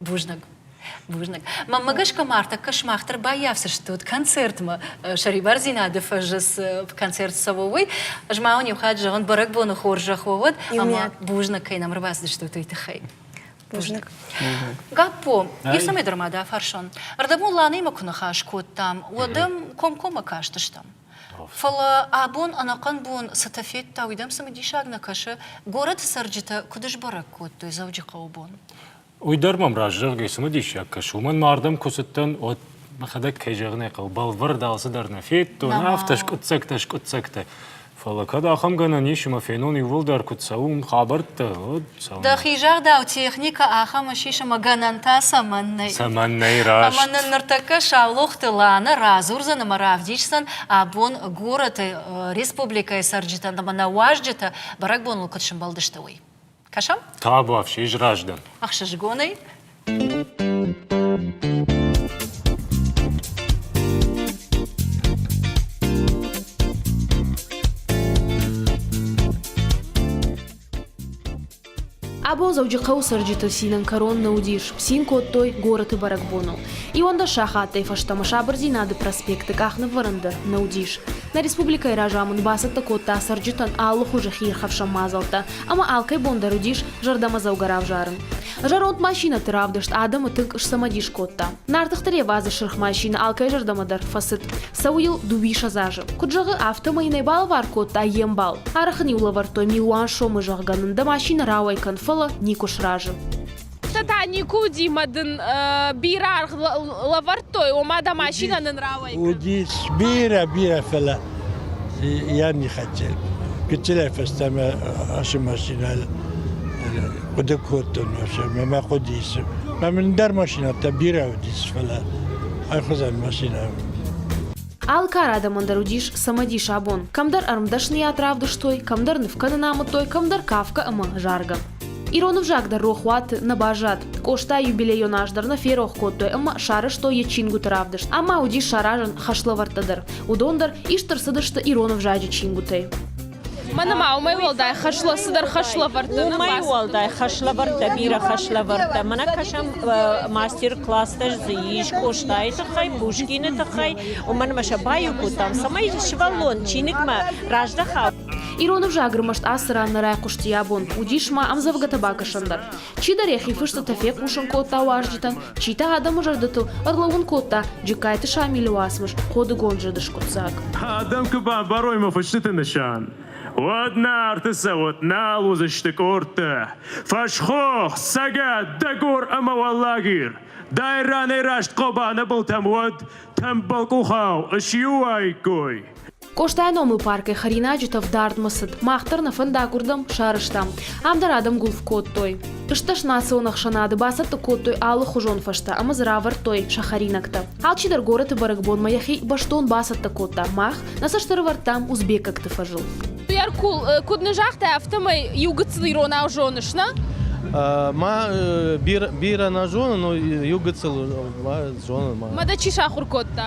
Бузныг. Бузныг. Маммӕ гӕсгӕ ма ӕртӕккӕ сымах дӕр баййафдзыстут концертмӕ. Сӕрибардзинады фӕзы цы концерт цӕуы, уый. Ӕз ма уын иу хатт зӕгъын, бӕрӕгбоны хорзӕх уӕ уӕд, ӕмӕ бузныг кӕй нӕм ӕрбацыдыстут уый тыххӕй. Бузныг. Гаппо, ницӕмӕй дӕр ма дӕ фӕрсон. Ӕрдӕбон Ланӕимӕ куы ныхас кодтам, уӕд ӕм комкоммӕ кастыстӕм. Фӕлӕ абон ӕнӕхъӕн бон цытӕ федта, уый дӕм цымыдисаг нӕ кӕсы? Горӕты цӕрджытӕ куыд сбӕрӕг кодтой Дзӕуджыхъӕуы бон? Уый дӕр мӕм раст, зӕгъгӕ, цымӕ диссаг кӕсы. Уымӕн ма ардӕм куы цыдтӕн, уӕд мӕхӕдӕг кӕй зӕгъын ӕй хъӕуы, бӕлвырд алцыдӕр нӕ федтон, афтӕ скъуыддзӕгтӕ скъуыддзӕгтӕ. Фӕлӕ кӕд ахӕм гӕнӕн ис, ӕмӕ фенон иууылдӕр куыд цӕуын, хабӕрттӕ, уӕд цӕуын. Дӕхи загъдау, техникӕ ахӕм ссис ӕмӕ гӕнӕнтӕ цӕмӕн нӕй? Цӕмӕн нӕй раст? Ӕмӕ нын ныртӕккӕ Саулохты Лана радзурдзӕн ӕмӕ равдисдзӕн, абон горӕты республикӕйы цӕрджытӕн ӕмӕ нӕ уазджытӕ бӕрӕгбоныл куыд сӕмбӕлдысты, уый. Кӕсӕм? Тавафсис раздӕр. Ӕхсызгонӕй. Абон Дзӕуджыхъӕуы цӕрджыты цинӕн кӕрон нӕ уыдис, цин кодтой горӕты бӕрӕгбоныл. Иуӕндӕс сахаттӕй фӕстӕмӕ сабырдзинады проспекты къахныввӕрӕн дӕр нӕ уыдис. Нӕ республикӕйы разамынд бацӕттӕ кодта цӕрджытӕн алы хуызы хиирхӕфсӕн мадзӕлттӕ, ӕмӕ алкӕй бон дӕр уыдис зӕрдӕмӕдзӕугӕ равзарын. Зӕронд машинӕты равдыст адӕмы тынг сцымӕдис кодта. Нартыхты ревазы сырх машинӕ алкӕй зӕрдӕмӕ дӕр фӕцыд. Цӕуы йыл дыууиссӕдз азы. Куыд зӕгъы, афтӕмӕй нӕ балӕвар кодта йе мбал. Арӕх ын-иу лӕвӕрдтой, милуан сомы, зӕгъгӕ, нын дӕ машинӕ рауӕй кӕн, фӕлӕ никуы сразы. Уыцы та никуы уыди мӕ дын э, бирӕ аргъ л- лӕвӕрдтой, ома дӕ машинӕ нын рауӕйкӕн. Уди бирӕ, бирӕ фӕлӕ я не хотел. Кичелӕй фӕстӕмӕ ашы машинӕ хъуыды кодтон вообще, мӕ хъуыди ис. Мӕ мын дӕр машинӕтӕ бирӕ уыдис, фӕлӕ айхуызӕн машинӕ Алкӕр адӕмӕн дӕр уыдис цымыдис абон. Кӕмдӕр ӕрмдӕсныйад равдыстой, кӕмдӕр нывкӕнын амыдтой, кӕмдӕр кафгӕ ӕмӕ заргӕ. Ирон ӕвзаг дӕр рохуаты нӕ баззад. Къоста юбилейон аз дӕр нӕ ферох кодтой ӕмӕ сарӕзтой йӕ чингуыты равдыст. Ама уыдис саразӕн хӕслӕвӕрдтӕ дӕр. Уыдон дӕр ист ӕрцыдысты ирон ӕвзаджы чингуытӕй. Мӕнӕ ма уымӕй уӕлдай хӕслӕ цыдӕр хӕслӕвӕрдтӕ нӕ Уымӕй уӕлдай хӕслӕвӕрдтӕ бирӕ хӕслӕвӕрдтӕ. Мӕнӕ кӕсӕм мастер-класстӕ дзы ис Къостайы тыххӕй, Пушкины тыххӕй, уымӕн ӕмӕ сӕ баиу кодтам, цӕмӕй сывӕллон чиныгмӕ раздӕха. Ирон ӕвзаг ӕрмӕст ацы ран нӕ райхъуысти йӕ бон, уыдис ма ӕмдзӕвгӕтӕ бакӕсӕн дӕр. Чидӕр йӕхи фыстытӕ фехъусын кодта уазджытӕн, чи та адӕмы зӕрдӕтыл ӕрлӕууын кодта Джыккайты Шамилы уацмыс Ходыгонд зыд скъуыддзаг. Адӕм куы бамбарой мӕ фыстыты нысан, уӕд Нарты цӕуӕт нал уыдзысты къордтӕ, фӕсхох, цӕгат, дӕгор ӕмӕ уӕллагир. Дай ранӕй раст Хъобаны былтӕм уӕд тӕмбӕлкъухау ысиуаиккой. Къостайы номыл паркӕй хӕринаджытӕ вдардмӕ цыд. Мах дӕр нӕ фӕндаг уырдӕм сарӕзтам. Ам дӕр адӕм гуылф кодтой. Стӕс национ ӕхсӕнады бацӕттӕ кодтой алыхуызон фӕзтӕ ӕмӕ дзы равӕрдтой сӕ хӕринӕгтӕ. Алчидӕр горӕты бӕрӕгбонмӕ йӕхи бӕстон бацӕттӕ кодта. Мах нӕ цӕст ӕрӕвӕрдтам узбекӕгты фӕзыл. Еркул, куыд нын загътай, афтӕмӕй иу гыццыл иронау зоныс, нӕ? Ма бирӕ нӕ зонын, но иу гыццыл зонын. Мадӕ чи сахуыр кодта?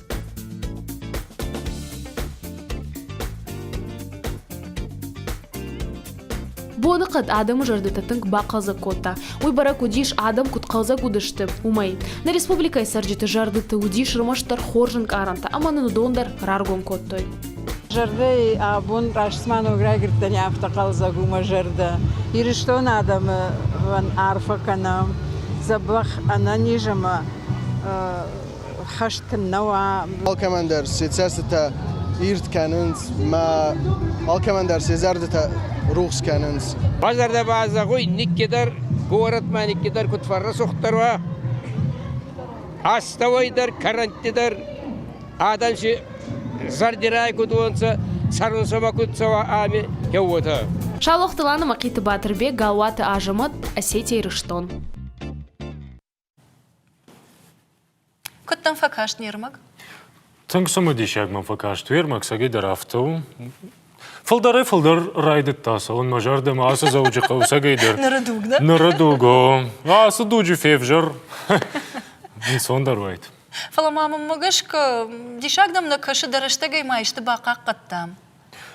боныхъӕд адӕмы зӕрдӕтӕ тынг бахъӕлдзӕг кодта уый бӕрӕг уыдис адӕм куыд хъӕлдзӕг уыдысты уымӕй нӕ республикӕйы цӕрджыты зӕрдӕты уыдис рмӕстдӕр хорз ӕнкъарӕнтӕ ӕмӕ нын уыдон дӕр раргом кодтой зӕрдӕйы абон растма ног райгырдтӕни афтӕ хъӕлдзӕг у мӕ зӕрдӕ ирыстон адӕмы арфӕ кӕнӕм дзӕбӕх ӕнӕниз ӕмӕ хӕст нӕ уа. Алкӕмӕн дӕр се цӕстытӕ ирд кӕнынц мӕ алкӕмӕн дӕр се зӕрдӕтӕ рухс кӕнынц. Базарда базагой никкедер, городмӕ никкедер кутфар ресухтар ва. Астауайдар, карантидер, адамши зардирай кудуонца, сарунсама кутцава ами кеуота. Шалохтыланы Махъиты Батырбек, Галуаты Азӕмӕт, Осетия, Ирыстон. Куыд дӕм фӕкаст не рмӕг? Тынг цымыдисаг мӕм фӕкаст уе рмӕг, цӕгӕйдӕр афтӕ у. Фылдӕрӕй фылдӕр райдыдта цӕуын мӕ зӕрдӕмӕ ацы Дзӕуджыхъӕуы цӕгӕйдӕр. Ныры дуг, нӕ? Ныры дуг, о. Ацы дуджы февзӕр. Ӕнцондӕр уайд. Фӕлӕ ма мӕм мӕ гӕсгӕ, диссаг дӕм нӕ кӕсы, дӕ рӕстӕгӕй ма исты бахъахъхъӕдтам?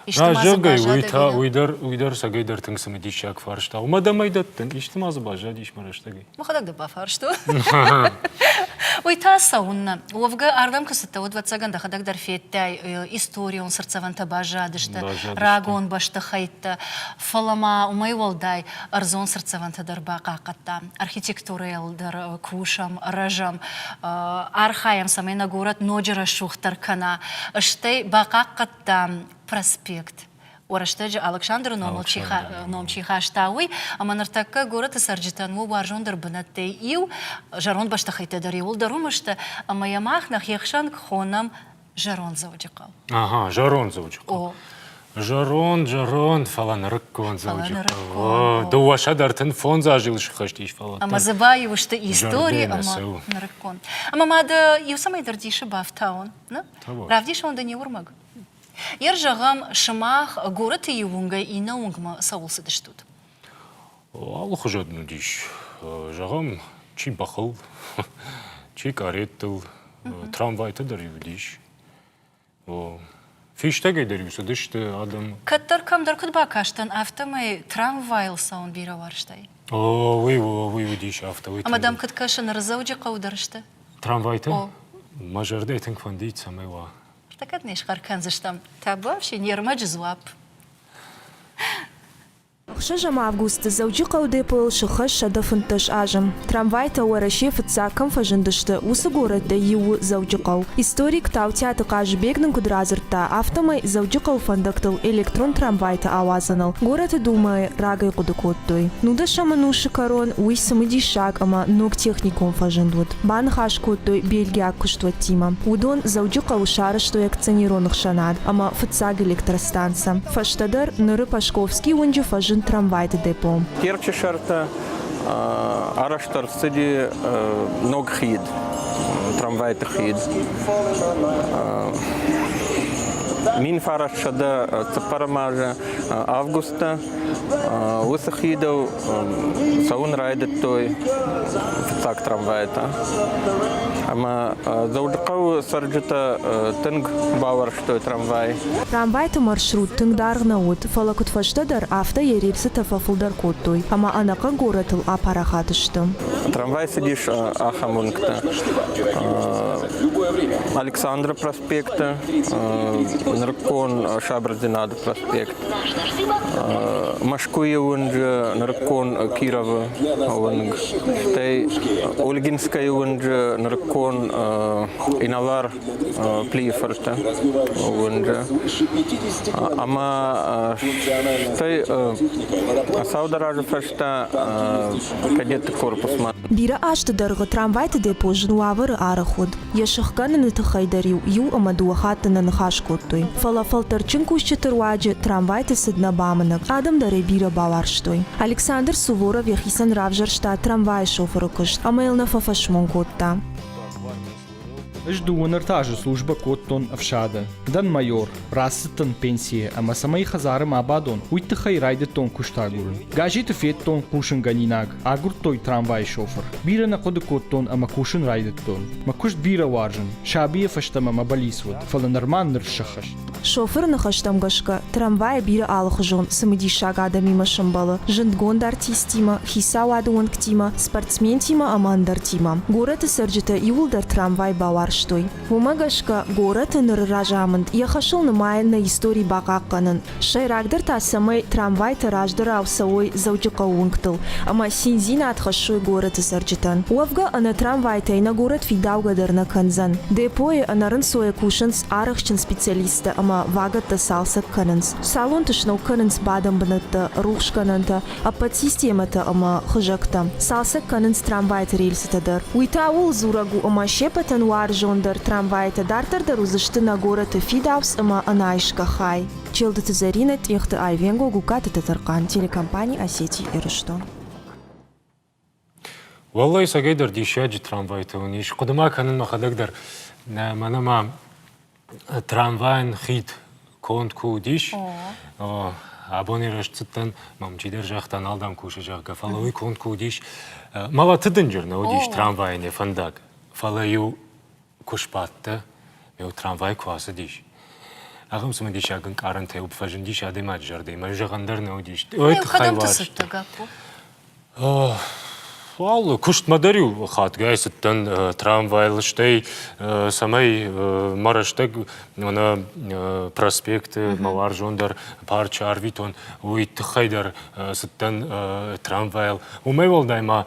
Исты ма дзы баззадӕй? Уый дӕр уый дӕр сагӕйдӕр тынг цымыдисаг фарст а. Уымӕ дӕмӕй дӕттын, исты ма дзы баззадис мӕ рӕстӕгӕй? Мӕхӕдӕг дӕ бафарстон. Уый та цӕуыннӕ? Уӕвгӕ, ардӕм куы цыдтӕ, уӕд, ӕвӕццӕгӕн, дӕхӕдӕг дӕр федтай, историон цыртдзӕвӕнтӕ баззадысты рагон бӕстыхӕйттӕ, фӕлӕ ма уымӕй уӕлдай ӕрдзон цыртдзӕвӕнтӕ дӕр бахъахъхъӕдтам. Архитектурӕйыл дӕр кусӕм, рӕзӕм, архайӕм, цӕмӕй нӕ горӕт ноджы рӕсугъддӕр кӕна. Стӕй бахъахъхъӕд радта проспект рӕстӕджы Алыксандры номыл чи ном чи хаста, уый, ӕмӕ ныртӕккӕ горӕты цӕрджытӕн у уарзондӕр бынӕттӕй иу, зӕронд бӕстыхӕйттӕ дӕр иууылдӕр уым сты, ӕмӕ йӕ мах нӕхи ӕхсӕн хонӕм зӕронд Дзӕуджыхъӕу. Ага, зӕронд Дзӕуджыхъӕу. Зӕронд, зӕронд, фӕлӕ нырыккон Дзӕуджыхъӕу. Дыууӕсӕ дӕр тынг фондз азы йыл сыххӕст ис, фӕлӕ. Ӕмӕ дзы баиу сты истори ӕмӕ нырыккон. Ӕмӕ ма дӕ иу цӕмӕй дӕр дисы бафтауон? Равдисон дын и уырмӕг. Йер зӕгъӕм, сымах горӕты иу уынгӕй иннӕ уынгмӕ цӕуыл цыдыстут? Алыхуызон уыдис. Зӕгъӕм, чи бӕхыл, чи кареттыл, трамвайты дӕр-иу уыдис. Фистӕгӕй дӕр-иу цыдысты адӕм. Кӕддӕр кӕмдӕр куыд бакастӕн, афтӕмӕй трамвайыл цӕуын бирӕ уарзтай? О, уый уыдис афтӕ. Ӕмӕ дӕм куыд кӕсы, ныры Дзӕуджыхъӕуы дӕр сты? Трамвайтӕ? О. Мӕ зӕрдӕ тынг фӕндыид, цӕмӕй уа. Та кӕд не схъӕр кӕндзыстӕм? Табуафсин, йе рмӕджы дзуапп. Хсӕз ӕмӕ августы Дзӕуджыхъӕуы депойыл сыххӕст сӕдӕ фынддӕс азы трамвайтӕ Уӕрӕсейы фыццаг кӕм фӕзындысты, уыцы горӕттӕй иу у Дзӕуджыхъӕу. Историк Таутиаты Хъазыбег нын куыд радзырдта, афтӕмӕй Дзӕуджыхъӕуы фӕндӕгтыл электрон трамвайтӕ ауадзыныл горӕты Думӕйы рагӕй хъуыды кодтой. Нудӕсӕм ӕнусы кӕрон уый цымыдис диспетчераг ӕмӕ ног техникон фӕзынд уыд. Баныхас кодтой бельгиаг куыстуӕттимӕ. Уыдон Дзӕуджыхъӕуы сарызтой акционерон ӕхсӕнад ӕмӕ фыццаг электростанцӕ. Фӕстӕдӕр ныры Пашковский уынджы фӕзынд трамвайты депо. Терчы сӕртӕ арӕзт ӕрцыди ног хид, трамвайты хид. Мин фараст сӕдӕ цыппӕрӕм азы август Уыцы хидыл цӕуын райдыдтой фыццаг трамвайтӕ. Ӕмӕ Дзӕуджыхъӕуы цӕрджытӕ тынг бауӕрстой трамвай. Трамвайты маршрут тынг даргъ нӕ уыд, фӕлӕ куыдфӕстӕдӕр, афтӕ йӕ рельсытӕ фӕфылдӕр кодтой ӕмӕ ӕнӕхъӕн горӕтыл апарахат сты. Трамвай цыдис ахӕм уынгты. Александры проспект проспекты, нырыккон сабырдзинады проспект, Мӕскуыйы уынджы нырыккон Кировы уынг, стӕй Ольгинскӕйы уынджы нырыккон Иналар Плийы фырты уынджы. Ӕмӕ стӕй саударазы фӕстӕ кадетты корпусмӕ. Бирӕ азты дӕргъы трамвайты депо зын уавӕры арӕх уыд. Йӕ сыхгӕныны тыххӕй дӕр-иу иу ӕмӕ дыууӕ хатты нӕ ныхас кодтой. Фӕлӕ фӕлтӕрджын кусджыты руаджы трамвайты цыд нӕ бамынӕг, адӕм дӕрӕй бирӕ бауарзтой. Александр Суворов йӕхицӕн равзӕрста трамвайы шофыры куыст ӕмӕ йыл нӕ фӕфӕсмон кодта. Ӕз дыууын-ӕртӕ азы службӕ кодтон ӕфсады. Дӕн майор, рацыдтӕн пенсийӕ ӕмӕ цӕмӕй хӕдзары ма бадон, уый тыххӕй райдыдтон куыст агурын. Газеты федтон хъусынгӕнинаг, Агуырдтой трамвайы шофыр. Бирӕ нӕ хъуыды кодтон ӕмӕ кусын райдыдтон. Мӕ куыст бирӕ уарзын. Сабийӕ фӕстӕмӕ мӕ балис уыд, фӕлӕ нырма ныр сӕххӕст. Шофыры ныхӕстӕм гӕсгӕ, трамвайы бирӕ алыхуызон цымыдисаг адӕмимӕ сӕмбӕлы, зындгонд артисттимӕ, хицауады уӕнгтимӕ, спортсментимӕ ӕмӕ ӕндӕртимӕ. Горӕты цӕрджытӕ иууылдӕр трамвай бауарзтой. Уымӕ гӕсгӕ горӕты ныры разамынд йӕ хӕсыл нымайӕн нӕ истори бахъахъхъӕнын. Сӕйрагдӕр та, цӕмӕй трамвайтӕ раздӕрау цӕуой Дзӕуджыхъӕуы уынгтыл ӕмӕ циндзинад хӕссой горӕты цӕрджытӕн. Уӕвгӕ ӕнӕ трамвайтӕй нӕ горӕт фидаугӕ дӕр нӕ кӕндзӕн. Депойы ӕнӕрынцойӕ кусынц арӕхджын специалисттӕ ӕмӕ вагӕттӕ цалцӕг кӕнынц. Салонты сног кӕнынц бадӕн бынӕттӕ, рухсгӕнӕнтӕ, ӕппӕт системӕтӕ ӕмӕ хызӕгтӕ, цалцӕг кӕнынц трамвайты рельсытӕ дӕр. Уый та ууыл дзурӕг у, ӕмӕ сеппӕтӕн уарзондӕр трамвайтӕ дарддӕр дӕр уыдзысты нӕ горӕты фидауц ӕмӕ ӕнайсгӕ хай. Челдыты Зӕринӕ, Тъехты Айвенго, Гугкаты Тӕтӕрхъан, телекомпани Осетия-Ирыстон. Уӕллӕй, сагӕйдӕр диссаджы трамвайтӕ уын ис. Хъуыды ма кӕнын мӕхӕдӕг дӕр, нӕ мӕнӕ ма трамвайӕн хид конд куы уыдис, абони рӕзт цыдтӕн, мӕм чидӕр загъта, нал дӕм кусы, зӕгъгӕ, фӕлӕ уый конд куы уыдис. Мӕлӕты дынджыр нӕ уыдис трамвайӕн йӕ фӕндаг, фӕлӕ-иу Куы сбадтӕ, eo трамвай куы ацыдис. Ахӕм цымыдисаг ӕнкъарӕнтӕй уып фӕзындис адӕймаджы зӕрдӕ, ӕмӕ зӕгъӕн дӕр нӕ уыдис. Ой, тыххӕй уарзты. Алы куыстмӕ дӕр-иу хатгай цыдтӕн трамвайыл, стӕй цӕмӕй мӕ рӕстӕг мӕнӕ проспекты мӕ уарзондӕр парчы арвитон, уый тыххӕй дӕр цыдтӕн трамвайыл. Уымӕй уӕлдай ма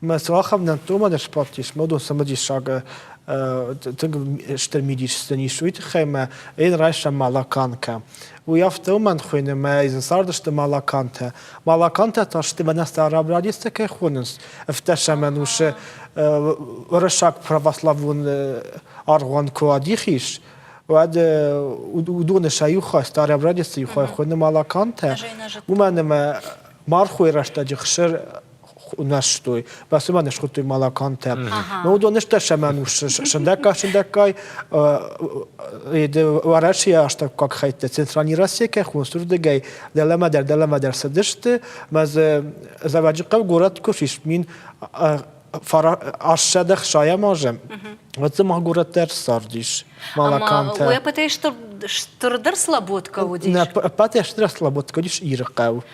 Мӕ цуахӕмнӕтты уымӕн спорт ис модон цымыдисаг тынг стыр мидисдзӕн ис уый тыххӕй мӕ ӕйын райсам малаканкӕ. Уый афтӕ уымӕн хуыйны мӕ зын цардысты малакантӕ. Малакантӕ та сты мӕнӕ старобрадисты кӕй хонынц ӕфтӕсӕмӕнусы уырыссаг православон аргъуан куы адих ис, уӕд уыдоны сӕ иу хай старобрадисты иу хай хуыйны малакантӕ. Уымӕн ӕмӕ мархойы рӕстӕджы хсыр унӕстой, бацымӕн схуттуй малакантӕ. Но уыдоныстӕ сӕмӕн ус сындӕггай-сындӕггай еде Уӕрӕсейы астаккаг хӕйттӕ Центральный Россия кӕй хонсурдыгӕй дӕлӕмӕдӕр дӕлӕмӕдӕр цыдысты, мӕ дзы Заваджыхъӕу горӕт куы фисмин ассӕдӕ хсайамазӕм, уӕд дзы ма горӕт дӕр цардис малакантӕ. Уӕ пӕтӕй стырдӕр слаботка уыдис? Нӕ пӕтӕй стырдӕр слаботка уыдис Иры хъӕу.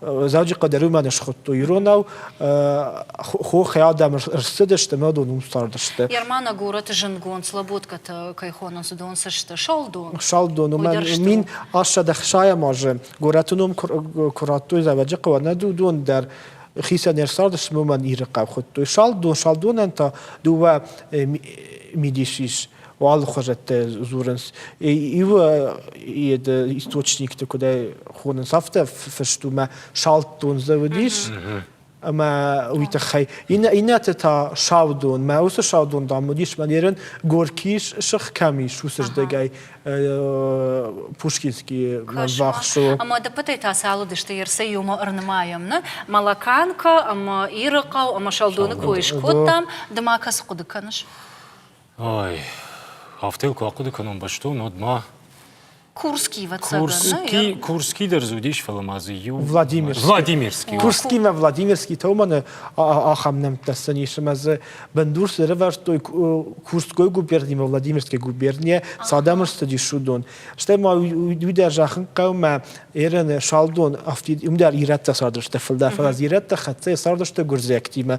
Дзӕуджыхъӕд ӕрымӕн схуыдтой иронау, хохӕй адӕм рцыдысты ӕмӕ дон уым цардысты. Ермана горӕты зындгонд слаботкӕтӕ кӕй хонынц, дон цы сты? Салдон. Салдон, уымӕ мин ассад ӕхсайӕм азы горӕты ном куы радтой Дзӕуджыхъӕуы, нӕ дон дӕр хицӕн ӕрцардыс уымӕн Иры хъӕу хуыдтой. Салдон, салдонӕн та дыууӕ мидис ис. алыхуызӕттӕ дзурынц. Иуы йӕ источникты куыдӕй хонынц, афтӕ фыст у, мӕ салддон дзы уыдис. ӕмӕ уый тыххӕй иннӕты та саудон мӕ уыцы саудон дам уыдис мӕ ерын горкис сых кӕм ис уыцы здӕгӕй пушкинский вахсо ӕмӕ дыппытӕй та цал уыдысты ерсӕй иумӕ ӕрнымайӕм нӕ малаканка ӕмӕ иры хъӕу ӕмӕ салдоны кой скодтам ды ма кӕцы хъуыды кӕныс Ай, афтӕ куы ахъуыды кӕнон бӕстон, уӕд ма. Курский, вӕццӕгӕн, Курский дӕр дзы уыдис, фӕлӕ ма дзы иу. Владимир. Владимирский. Курский мӕ Владимирский томаны ахӕм нӕмттӕ ссӕнис, ӕмӕ дзы бындурс ӕрӕвӕрдтой Курской губерни ӕмӕ Владимирской губернийӕ цы адӕмы цыдис, уыдон. Стӕй ма уый дӕр зӕххын хъӕумӕ Ираны салдон афтид уым дӕр ирӕттӕ цардысты фылдӕр, фӕлӕ ирӕттӕ хӕццӕ цардысты гуырдзиӕгтимӕ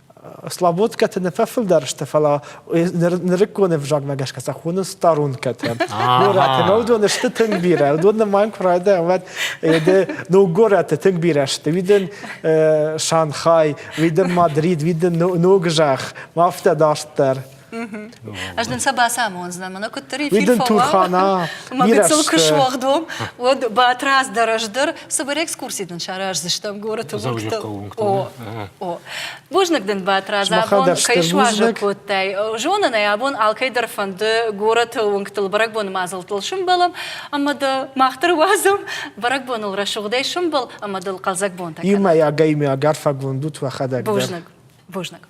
Славоткӕты нӕ фӕфылдӕр сты, фӕлӕ нырыккон ӕвзагмӕ гӕсгӕ сӕ хоны старункӕтӕ. Горӕты нӕ уыдон сты тынг бирӕ. Уыдон нымайын куы райдайӕм, уӕд де ног горӕты тынг бирӕ сты. Уидын Шанхай, уидын Мадрид, уидын ног зӕхх, афтӕ дарддӕр. Ӕз нын сӕ бацамондзынӕн, мӕнӕ куыддӕр эфир фӕуа, мӕ гыццыл куы суӕгъд уӕм, уӕд Батрадз дӕр ӕз дӕр цыбыр экскурси дын сараздзыстӕм горӕты уынгтыл. О, бузныг дын, Батрадз, абон кӕй суазӕг кодтай. Зонын ӕй, абон алкӕй дӕр фӕнды горӕты уынгтыл бӕрӕгбоны мадзӕлттыл сымбӕлӕм ӕмӕ дӕ мах дӕр уадзӕм бӕрӕгбоныл рӕсугъдӕй сымбӕл ӕмӕ дыл хъӕлдзӕг бонтӕ кӕнӕм. Иумӕйаг ӕймӕгад фӕгонд ут уӕхӕдӕг дӕр. Бузныг, бузныг.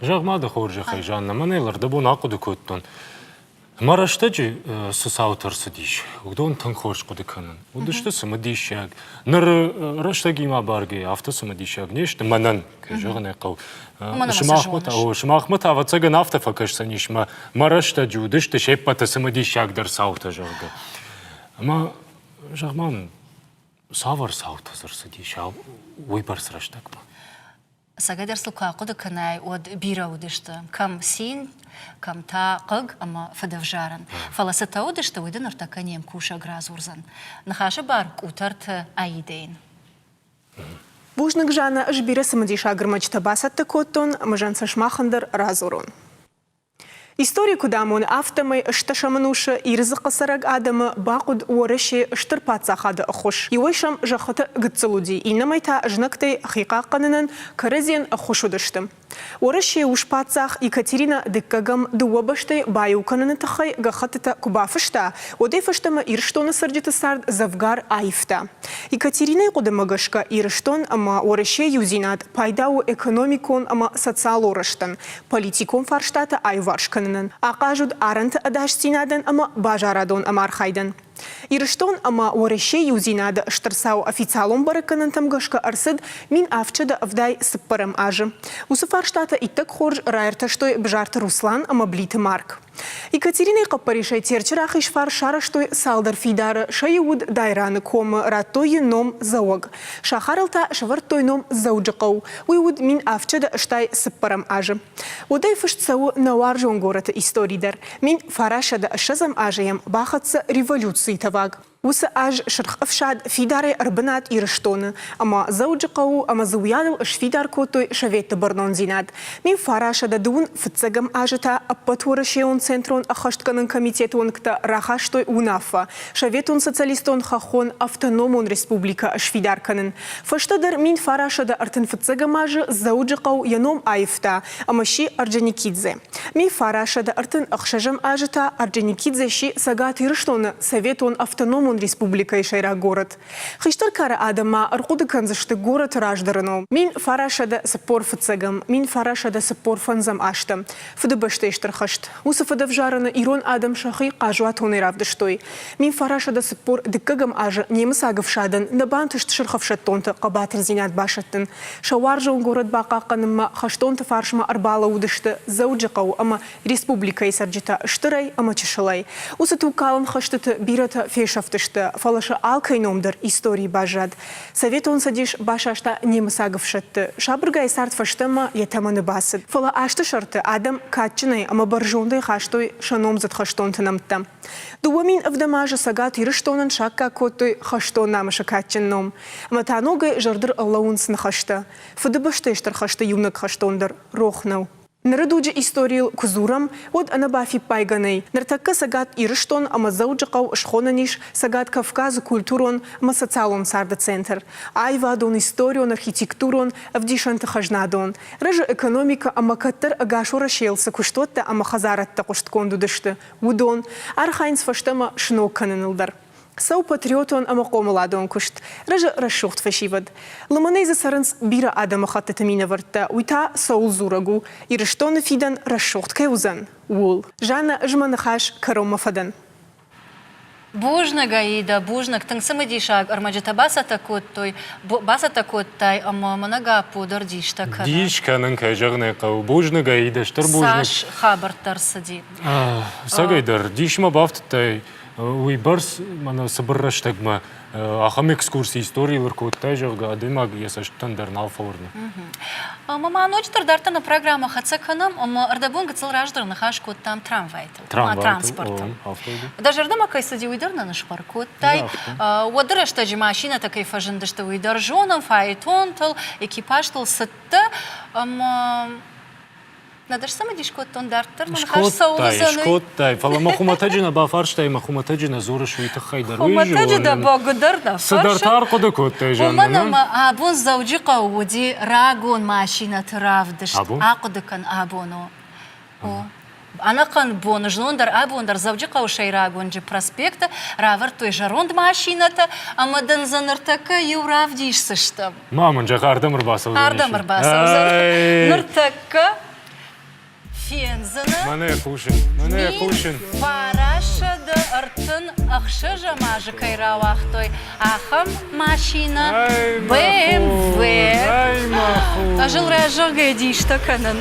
Зӕгъ ма дӕ хорзӕхӕй, Жанна, мӕнӕ лӕрдӕбон ахъуыды кодтон. Мӕ рӕстӕджы цы цаутӕ рцыдис, уыдон тынг хорз хъуыды кӕнын. Уыдысты цымыдисаг. Ныр рӕстӕгимӕ абаргӕйӕ афтӕ цымыдисаг не сты мӕнӕн, кӕй зӕгъын ӕй хъӕуы. Сымахмӕ та, ӕвӕццӕгӕн, афтӕ фӕкӕсдзӕнис, мӕ рӕстӕджы уыдысты се ппӕты цымыдисагдӕр цаутӕ, зӕгъгӕ. Ӕмӕ, зӕгъ-ма, цавӕр цаутӕ дзы рцыдис уыйбӕрц рӕстӕгмӕ? Цӕгатӕр сыл куы ахъуыды кӕнай, уӕд бирӕ уыдысты, кӕм цин, кӕм та хъыг ӕмӕ фыдӕвзарӕн. Фӕлӕ цытӕ уыдысты, уый дын ныртӕккӕ не мкусӕг радзурдзӕн. Ныхасы бар къутӕрты аидӕйын. Бузныг, Жанна, ӕз бирӕ цымыдисаг ӕрмӕджытӕ бацӕттӕ кодтон, ӕмӕ зӕн сӕ сымахӕн дӕр радзурон. Истори куыд амоны, афтӕмӕй стӕсӕм ӕнусы Иры дзыхъы цӕрӕг адӕмы бахъуыд Уӕрӕсе стыр паддзахады ӕххуыс. Иуӕй сӕм зӕххыты гыццыл уыди, иннӕмӕй та знӕгтӕй хихъахъхъӕнынӕн кӕрӕдзийӕн ӕххуыс уыдысты. Уӕрӕсе у спаддзах Екатеринӕ Дыккӕгӕм дыууӕ бӕстӕйы баиу кӕныны тыххӕй гӕххӕттытӕ куы бафыста, уӕдӕй фӕстӕмӕ Ирыстоны цӕрджыты цард дзӕвгар аивта. Екатеринӕйы хъуыдымӕ гӕсгӕ, Ирыстон ӕмӕ Уӕрӕсейы иудзинад пайда у экономикон ӕмӕ социалон рӕзтӕн, политикон фарстатӕ аиуварс кӕнынӕн, ахъаз уыд арӕнты ӕдасдзинадӕн ӕмӕ базарадон ӕмархайдӕн. Ирыстон ӕмӕ Уӕрӕсе иудзинады стыр цау официалон бӕрӕггӕнӕнтӕм гӕсгӕ ӕрцыд мин ӕфчыды ӕвдай цыппӕрӕм азы. Уыцы фарстатӕ иттӕг хорз раиртӕстой Бзарты Руслан ӕмӕ Блиты Марк. Екатеринӕйы хъӕппӕрисӕй Терчы рахиз фарс сарӕзтой цалдӕр фидары, сӕ иу уыд Дайраны комы, радтой йын ном Дзӕуӕг. Сахарыл та сӕвӕрдтой ном Дзӕуджыхъӕу. Уый уыд мин ӕфчыды, стӕй цыппӕрӕм азы. Удӕй фыст цӕуы нӕ уарзон горӕты истори дӕр. Мин фарӕсӕдӕ ӕссӕдзӕм азы йӕм бахӕццӕ революцийы тӕваг. Уыцы аз Сырх Ӕфсад фидарӕй ӕрбынат Ирыстоны, ӕмӕ Дзӕуджыхъӕуы ӕмӕ Дзуйаныл сфидар кодтой советты бӕрнондзинад. Мин фарӕсӕдӕ дыууын фыццӕгӕм азы та ӕппӕт уӕрӕсейон центрон ӕххӕстгӕнӕн комитеты уӕнгтӕ рахастой уынаффӕ, Советон Социалистон Хӕххон Автономон Республикӕ сфидар кӕнын. Фӕстӕдӕр мин фарасӕдӕ ӕртын фыццӕгӕм азы Дзӕуджыхъӕу йӕ ном аивта ӕмӕ сси Орджоникидзе. Мин фарасӕдӕ ӕртын ӕхсӕзӕм азы та Орджоникидзе сси Цӕгат Ирыстоны Советон Автономон Республикӕйы сӕйраг город. Хистӕр кары адӕм ма ӕрхъуыды кӕндзысты горӕты раздӕрыныл. Мин фарасӕдӕ цыппор фыццӕгӕм, мин фарасӕдӕ цыппор фӕндзӕм азты Фыдыбӕстӕйы Стыр хӕст. Уыцы фӕдӕвзарӕны ирон адӕм сӕхи хъазуатонӕй равдыстой. Мин фарасӕдӕ цыппор дыккӕгӕм азы немыцаг ӕфсадӕн нӕ бантыст сырх ӕфсӕддонты хъӕбатырдзинад басӕттын. Сӕ уарзон горӕт бахъахъхъӕнынмӕ хӕстонты фарсмӕ ӕрбалӕууыдысты Дзӕуджыхъӕуы ӕмӕ республикӕйы цӕрджытӕ стырӕй ӕмӕ чысылӕй. Уыцы тугкалӕн хӕстыты бирӕтӕ фесӕфтысты, фӕлӕ сӕ алкӕй ном дӕр историйы баззад. Советон Цӕдис басаста немыцаг ӕфсӕдты. Сабыргай цард фӕстӕмӕ йӕ тӕмӕны бацыд. Фӕлӕ азты сӕрты адӕм кадджынӕй ӕмӕ бӕрзондӕй хастой сӕ номдзыд хӕстонты нӕмттӕ. Дыууӕ мин ӕвдӕм азы Цӕгат Ирыстонӕн саккаг кодтой хӕстон намысы кадджын ном. Ӕмӕ та ногӕй зӕрдыр ӕрлӕууынц ныхӕстӕ. Фыдыбӕстӕйы стыр хӕсты иунӕг хӕстон дӕр рох нӕу. Ныры дуджы историйыл куы дзурӕм, уӕд ӕнӕбафиппайгӕ нӕй, ныртӕккӕ Цӕгат Ирыстон ӕмӕ Дзӕуджыхъӕу схонӕн ис Цӕгат Кавказы культурон ӕмӕ социалон царды центр, аивадон-историон-архитектурон, ӕвдисӕнты-хӕзнадон, рӕзы экономикӕ ӕмӕ кӕддӕр ӕгас Уӕрӕсейыл цы куыстуӕттӕ ӕмӕ хӕдзарӕдтӕ хъуыстгонд уыдысты, уыдон, архайынц фӕстӕмӕ сног кӕныныл дӕр. Цӕуы патриотон ӕмӕ хъомыладон куыст, рӕзы рӕсугъд фӕсивӕд. Лымӕнӕй дзы цӕрынц бирӕ адӕмыхӕттыты минӕвӕрттӕ, уый та цӕуылдзурӕг у, Ирыстоны фидӕн рӕсугъд кӕй уыдзӕн, ууыл. Жаннӕ, Ez мӕ ныхас кӕронмӕ фӕдӕн. Бузныг, Аида, бузныг, тынг цымыдисаг ӕрмӕджытӕ бацӕттӕ кодтой, бацӕттӕ кодтай ӕмӕ мӕнӕ Гаппо дӕр дистӕ кӕны. Дис кӕнын, кӕй зӕгъын ӕй хъӕуы, бузныг, Аида, стыр бузныг. Цас хабӕрттӕ ӕрцыди? Ӕцӕгӕй дӕр, дисмӕ бафтыдтай Уыйбӕрц мӕнӕ цыбыр рӕстӕгмӕ ахӕм экскурси историйыл ӕркодтай, зӕгъгӕ, адӕймаг йӕ цӕстытӕн дӕр нал фӕуырны. Ӕмӕ ма ноджыдӕр дарддӕр нӕ программӕ хӕццӕ кӕнӕм, ӕмӕ ӕрдӕбон гыццыл раздӕр ныхас кодтам трамвайтыл ӕмӕ транспортыл. Дӕ зӕрдӕмӕ кӕй цыди, уый дӕр нын схъӕр кодтай. Уӕды рӕстӕджы машинӕтӕ кӕй фӕзындысты, уый дӕр зонӕм, фаэтонтыл, экипажтыл цыдтӕ. Ӕмӕ Над ӕз цымыдис кодтон, дарддӕр мӕ ныхас цӕугӕ Скодтай, фӕлӕ мӕ хуымӕтӕджы нӕ бафарстай, мӕ хуымӕтӕджы нӕ дзурыс, уый тыххӕй дӕр. Хуымӕтӕджы дӕ бӕгуыдӕр нӕ фӕрсы? Цыдӕр та ӕрхъуыды кодтай, Жаннӕ, Уымӕн ӕмӕ абон Дзӕуджыхъӕуы уыди рагон машинӕты равдыст. Абон? Ахъуыды кӕн, абон у. У. Ӕнӕхъӕн боны знон дӕр, абон дӕр Дзӕуджыхъӕуы сӕйрагонджы проспекты равӕрдтой зӕронд машинӕтӕ, ӕмӕ дын дзы ныртӕккӕ иу равдисдзыстӕм. Ма мын зӕгъ, ардӕм ӕрбацӕудзӕн? Ардӕм ӕрбацӕудзӕн. Ныртӕккӕ фендзынӕ. Мӕнӕ кусын, мӕнӕ кусын. Фарасе де ӕртын ӕхсӕзӕм азы кӕй рауагътой, ахӕм машинӕ BMW. Ӕз ыл раззагӕй дистӕ кӕнын.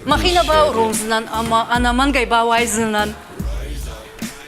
Махи нӕ бауромдзынӕн ӕмӕ ӕнӕмӕнгӕй бауайдзынӕн.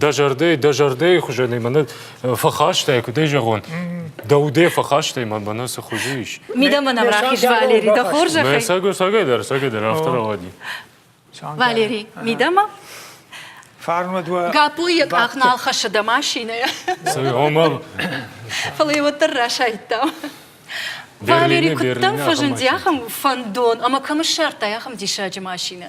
дӕ зӕрдӕй, дӕ зӕрдӕйы хуызӕн мӕнӕ фӕхастай, куыд ӕй зӕгъон, дӕ удӕй фӕхастай, мӕнӕ цы хуызы ис. Мидӕмӕ нӕм рахиз, Валери, дӕ хорзӕхӕй. Мӕ сагой сагайдӕр, сагайдӕр, афтӕ рауади. Валери, мидӕмӕ? Фарнмӕ дуа. Гаппо йӕ къах нал хӕссы дӕ машинӕйӕ. Фӕлӕ йӕ уӕддӕр расайдта. Валери, куыддӕм фӕзынди ахӕм фӕндон ӕмӕ кӕм ссардтай ахӕм диссаджы машинӕ?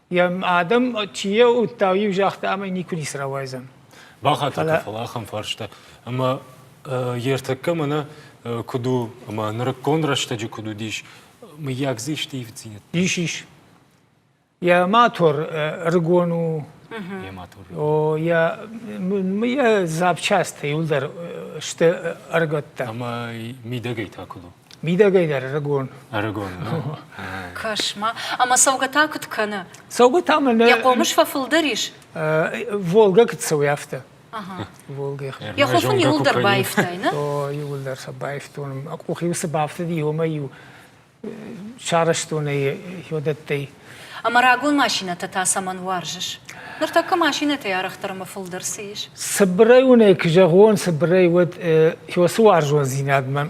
Йӕ адӕм чи йӕ уыдта, иу загъта ӕмӕ никуы ницы рауайдзӕн. Бахатӕг, фӕлӕ ахӕм фарста. Ӕмӕ йе ртӕккӕ мӕнӕ куыд у, ӕмӕ нырыккон рӕстӕджы куыд уыдис, мыййаг дзы исты ивддзинӕдтӕ? Ис, ис. Йӕ мотор ӕрыгон у. Йӕ мотор. О, йӕ йӕ запчастӕ иуылдӕр сты ӕрыгӕттӕ. Ӕмӕ мидӕгӕй та куыд у? Мидӕгӕй дӕр ӕрыгон. Ӕрыгон, ну. Кӕс-ма, ӕмӕ цӕугӕ та куыд кӕны? Цӕугӕ та мӕнӕ... Йӕ хъомыс фӕфылдӕр ис? Волгӕ куыд цӕуы, афтӕ. Волгӕ. Йӕ хъух ын иуылдӕр баивтай, нӕ? О, иуылдӕр сӕ баивтон. Мӕ къух-иу цы бафтыди, уымӕй-иу сарӕзтон ӕй йодӕттӕй. Ӕмӕ рагон машинӕтӕ та цӕмӕн уарзыс? Ныртӕккӕ машинӕтӕй арӕхдӕр ӕмӕ фылдӕр цы ис? Цыбырӕй уын ӕй куы зӕгъон, цыбырӕй уӕд уыцы уарзондзинад мӕм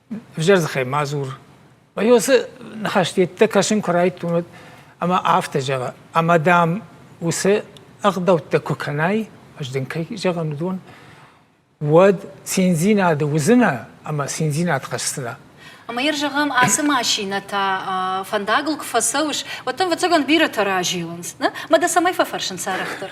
Ӕвзӕр дзыхӕй ма дзур. Мӕ уыцы ныхӕст йеддӕ кӕсын куы райдтон, уӕд ӕмӕ афтӕ зӕгъы, ӕмӕ дӕм уыцы ӕгъдӕуттӕ куы кӕнай, ӕз дын кӕй зӕгъын уыдон, уӕд циндзинады уыдзынӕ ӕмӕ циндзинад хӕсдзынӕ. Ӕмӕ йӕ зӕгъӕм, ацы машинӕтӕ фӕндагыл куы фӕцӕуыс, уӕд дӕм, ӕвӕццӕгӕн, бирӕтӕ разилынц, нӕ? Мӕ дӕ цӕмӕй фӕфӕрсын сӕрӕхдӕр?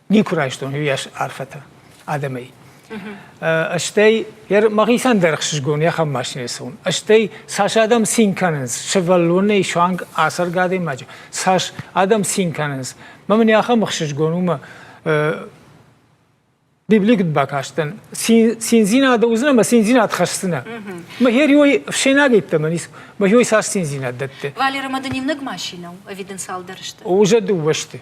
никуы райстон иуйас арфӕтӕ адӕмӕй. Стӕй мӕхицӕн дӕр ӕхсызгон ахӕм машинӕ цӕуын. Стӕй цас адӕм цин кӕнынц, сывӕллонӕй суанг ацӕргӕ адӕймаджы, цас адӕм цин кӕнынц. Мӕ мын ахӕм ӕхсызгон у мӕ Библи куыд бакастӕн, циндзинад уыдзынӕ ӕмӕ циндзинад хӕсдзынӕ. Мӕхӕриой фсенаг йеддӕмӕ ницы, мӕхиой цас циндзинад дӕтты. Валеры мады не внаг машинӕ у, ӕвиденциалдӕр сты. Уже дыууӕ сты.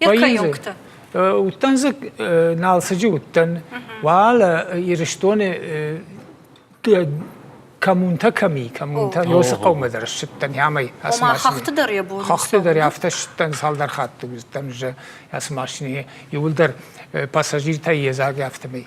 Екаёгтӕ. Уттан зы налсыджы уттан, уала Ирыстоны коммунтӕ кӕми, коммунтӕ ёсы хъӕумӕ дӕр ссыдтӕн ӕмӕ ацы машинӕ. Хӕхты дӕр йӕ бон. Хӕхты дӕр афтӕ ссыдтӕн цалдӕр хатты уыдтӕн уже ацы машинӕ иуылдӕр пассажиртӕй йедзаг афтӕмӕй.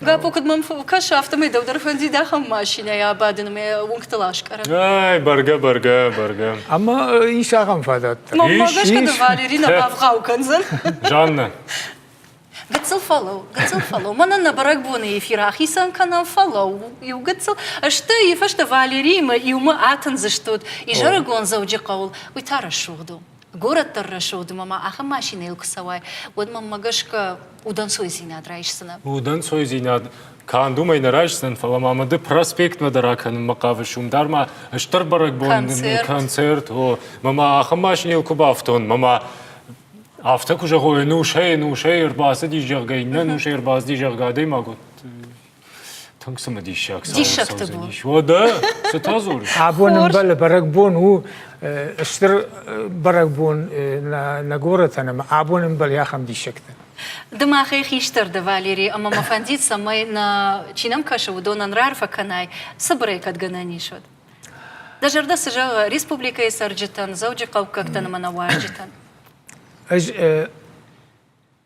Гапо, куыд мӕм кӕсы, афтӕмӕй дӕу дӕр фӕндид ахӕм машинӕйы абадын ӕмӕ уынгтыл аскъӕрын. Ай, бӕргӕ, бӕргӕ, бӕргӕ. Ӕмӕ ис ахӕм фадат дӕр? Мӕнмӕ гӕсгӕ дӕ Валери нӕ бавгъау кӕндзӕн. Жаннӕ. Гыццыл фӕлӕу, гыццыл фӕлӕу. Мӕнӕ нӕ бӕрӕгбоны эфир ахицӕн кӕнӕм, фӕлӕу, иу гыццыл. Стӕй йӕ фӕстӕ Валериимӕ иумӕ атындзыстут изӕрыгон Дзӕуджыхъӕуыл. Уый та рӕсугъд у. горӕт дӕр рӕсугъд ӕмӕ ма ахӕм машинӕйыл куы цӕуай, уӕд мӕнмӕ гӕсгӕ удӕнцойдзинад райсдзынӕ? Удӕнцойдзинад канд уымӕй нӕ райсдзӕн, фӕлӕ ма мыды проспектмӕ дӕр акӕнынмӕ хъавыс, уым дӕр ма стыр бӕрӕгбон концерт, концерт о, мӕ ма ахӕм машинӕйыл куы бафтон, мӕ ма афтӕ куы зӕгъой, нусӕй, нусӕй ӕрбацыди, зӕгъгӕ, иннӕ нусӕй ӕрбацыди, зӕгъгӕ, адӕймаг уыд Тынг цымыдисаг Диссӕгты бон. Уӕдӕ, цытӕ дзурыс? Абон ӕмбӕлы бӕрӕгбон у стыр бӕрӕгбон нӕ горӕтӕн ӕмӕ абон ӕмбӕлы ахӕм диссӕгтӕ. Ды махӕй хистӕр дӕ, Валери, ӕмӕ мӕ фӕндид, цӕмӕй, нӕ чи нӕм кӕсы, уыдонӕн раарфӕ кӕнай, цыбырӕй кӕд гӕнӕн ис, уӕд. Дӕ зӕрдӕ цы зӕгъы республикӕйы цӕрджытӕн, дзӕуджыхъӕуккӕгтӕн ӕмӕ нӕ уазджытӕн? Ӕз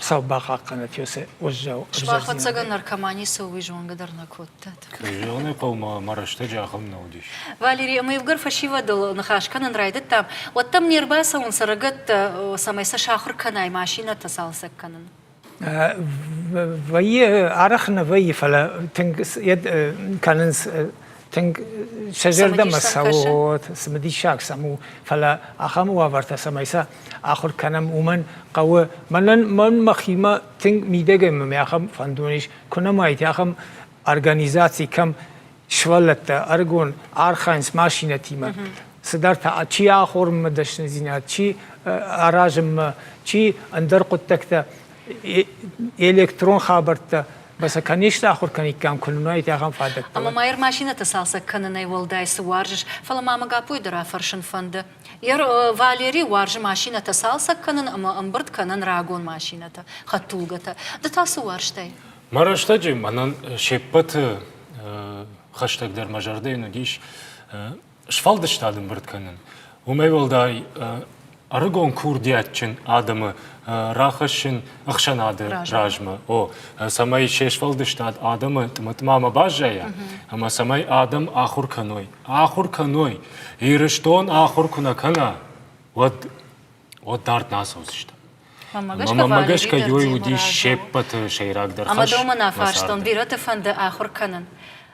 Сау бахъахъхъӕнӕт йесе уӕззау Сбахӕццӕгӕ наркомани цӕугӕ зонгӕ дӕр нӕ кодтат. Кӕй зӕгъын хъӕумӕ мӕ рӕстӕджы ахӕм нӕ уыдис. Валери ӕмӕ ивгӕр фӕсивӕдыл ныхас кӕнын райдыдтам, уӕд дӕм не рбацӕуын цӕрӕгӕттӕ, цӕмӕй сӕ сахуыр кӕнай машинӕтӕ цалцӕг кӕнын. Вӕййы, арӕх нӕ вӕййы, фӕлӕ тынг кӕнынц тынг сӕ зӕрдӕмӕ цӕуы вот цымыдисаг сӕм у фӕлӕ ахӕм уавӕртӕ цӕмӕй сӕ ахуыр кӕнӕм уымӕн хъӕуы мӕнӕн мӕн мӕхимӕ тынг мидӕгӕй мӕ ахӕм фӕндон ис куы нӕма ит ахӕм организаци кӕм сывӕллӕттӕ ӕрыгон архайынц машинӕтимӕ цыдӕртӕ чи ахорынмӕ дӕсныдзинад чи аразынмӕ чи ӕндӕр хъуыддӕгтӕ электрон хабӕрттӕ Ба сӕ кӕннисты ахуыр кӕниккам, куы нын уаид ахӕм фадӕттӕ. Ӕмӕ ма ӕрмасинӕтӕ цалцӕг кӕнынӕй уӕлдай цы уарзыс, фӕлӕ ма мӕ Гаппойы дӕр афӕрсын фӕнды. Йӕр Валери уарзы машинӕтӕ цалцӕг кӕнын ӕмӕ ӕмбырд кӕнын рагон машинӕтӕ, хӕдтулгӕтӕ. Ды та цы уарзтай? Мӕ рӕстӕджы мӕнӕн се ппӕты хӕстӕгдӕр мӕ зӕрдӕйӕн уыдис сфӕлдыстад ӕмбырд кӕнын. Уымӕй уӕлдай ӕрыгон курдиатджын адӕмы рахӕссын ӕхсӕнады размӕ, о, цӕмӕй се сфӕлдыстад адӕмы тъматъмамӕ баззайа ӕмӕ цӕмӕй адӕм ахуыр кӕной. Ахуыр кӕной, Ирыстон ахуыр куы нӕ кӕна, уӕд уӕд дард нӕ ацӕудзыстӕм. Мӕ гӕсгӕ уый уыдис се ппӕты сӕйрагдӕр хӕс. Ӕмӕ домын афарстон, бирӕты фӕнды ахуыр кӕнын.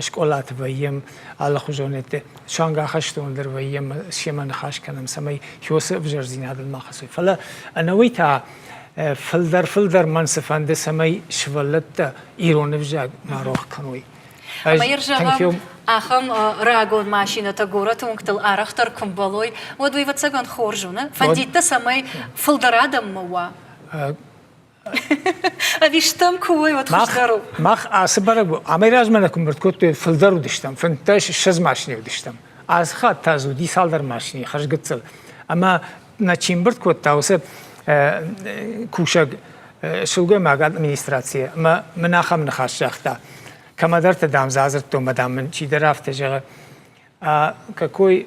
скъолаты вӕййӕм, алыхуызон суанг ахӕстоныл дӕр вӕййӕм, семӕ ныхас кӕнӕм, цӕмӕй хи уыцы ӕвзӕрдзинадыл ма хӕцой. Фӕлӕ ӕнӕуый та фылдӕр-фылдӕр мӕн цы фӕнды, цӕмӕй сывӕллӕттӕ ирон ӕвзаг ма рох кӕной. Ӕмӕ ир зӕгъӕм, ахӕм рагон машинӕтӕ горӕты уынгтыл арӕхдӕр куы мбӕлой, уӕд уый ӕвӕццӕгӕн хорз уыны. Фӕндиттӕ цӕмӕй фылдӕр адӕммӕ уа. Ӕви стӕм куы уой, уӕд хуыздӕр у? Мах ацы бӕрӕг амӕйразмӕ нӕ куымбырд кодтой, фылдӕр уыдыстӕм, фынддӕс, ссӕдз машинӕ уыдыстӕм. Ацы хатт та дзы уыди цалдӕр машинӕ хӕрзгӕццыл. Ӕмӕ нӕ чи мбырд кодта, уыцы кусӕг сылгоймаг администрацийы ӕмӕ мын ахӕм ныхас загъта. Кӕмӕдӕрты, дам, дзы адзырдтон, мадам мын чидӕр афтӕ зӕгъы, какой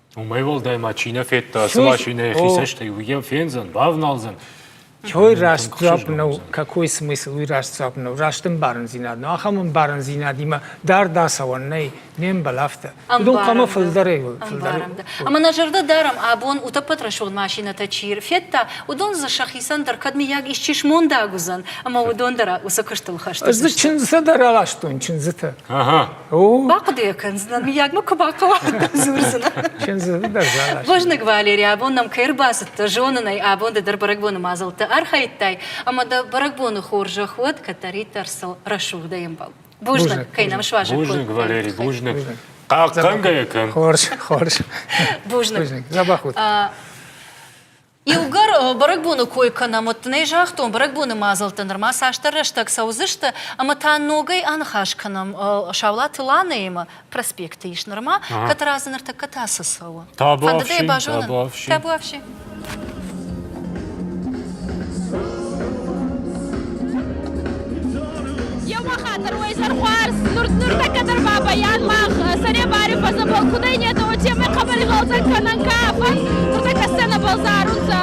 Уымӕй уӕлдай ма чи нӕ федта ацы машинӕйы хи цӕстӕй, уый фендзӕн, бавналдзӕн. Той рӕстдзуапп нӕу, какой смысл уый рӕстдзуапп нӕу, раст ӕмбарындзинад нӕу, ахӕм ӕмбарындзинадимӕ дарддӕр цӕуӕн нӕй, не мбал афтӕ. Уыдон хъуамӕ фылдӕрӕй уой, фылдӕрӕй. Ӕмӕ нӕ зӕрдӕ дарӕм, абон утоппотрасон машинӕтӕ чи рфедта, уыдон дзы сӕхицӕн дӕр кӕд миййаг исчи смондаг уыдзӕн, ӕмӕ уыдон дӕр уыцы куыстыл хӕсты. Ӕз дзы чындзытӕ дӕр аластон, чындзытӕ. Ага. Бахъуыдыйӕ кӕндзынӕн, мыййаг мӕ куы бахъӕуа, дзурдзынӕ. Бузныг, Валерий, абон нӕм кӕй ӕрбацыдтӕ, зонын ӕй, абон дӕ дӕр бӕрӕгбоны мадзӕлттӕ архайдтай, ӕмӕ дӕ бӕрӕгбоны хорзӕх уӕд, кӕддӕриддӕр сыл рӕсугъд дӕ ӕмбал. Бузныг, кӕй нӕм суазӕг Бузныг, Валерий, бузныг. Хъахъхъӕнгӕйӕ кӕн. Хорз, хорз. Бузныг. Дзӕбӕх уыд. Иугӕр бӕрӕгбоны кой кӕнӕм, уӕд дын ӕй загътон, бӕрӕгбоны мадзӕлттӕ нырма цасдӕр рӕстӕг цӕудзысты, ӕмӕ та ногӕй аныхас кӕнӕм Саулаты Ланаимӕ. Проспекты ис нырма, кӕд разы ныртӕккӕ та цы цӕуы? Фӕндыдӕй базонын? Табуафси. Еума хатир уойсӕр хуарз нуртӕккӕ дӕр бабӕйӕн мах сӕре бари фӕззӕбӕл кудӕй нетӕ, уотемӕй хъӕбӕри гъӕлдзӕг кӕнӕн ка фӕн, нуртӕккӕ сценӕбӕл зарунцӕ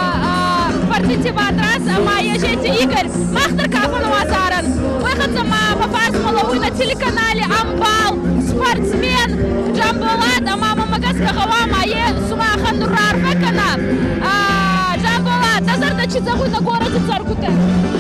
партити Батрас ӕма Ежети Игорь. Мах дӕр ка фӕнуа зарӕн, уой хӕццӕ ма фӕбарзмӕ лӕууй на телеканали «Амбал» спортсмен Джамболат ӕма мӕмӕ гӕсгӕ гъӕуа ма е сумахӕн нур раарфӕ кӕна. Джамболат, дӕ зӕрдӕ чи зӕгъуй нӕ горӕти цӕргутӕн?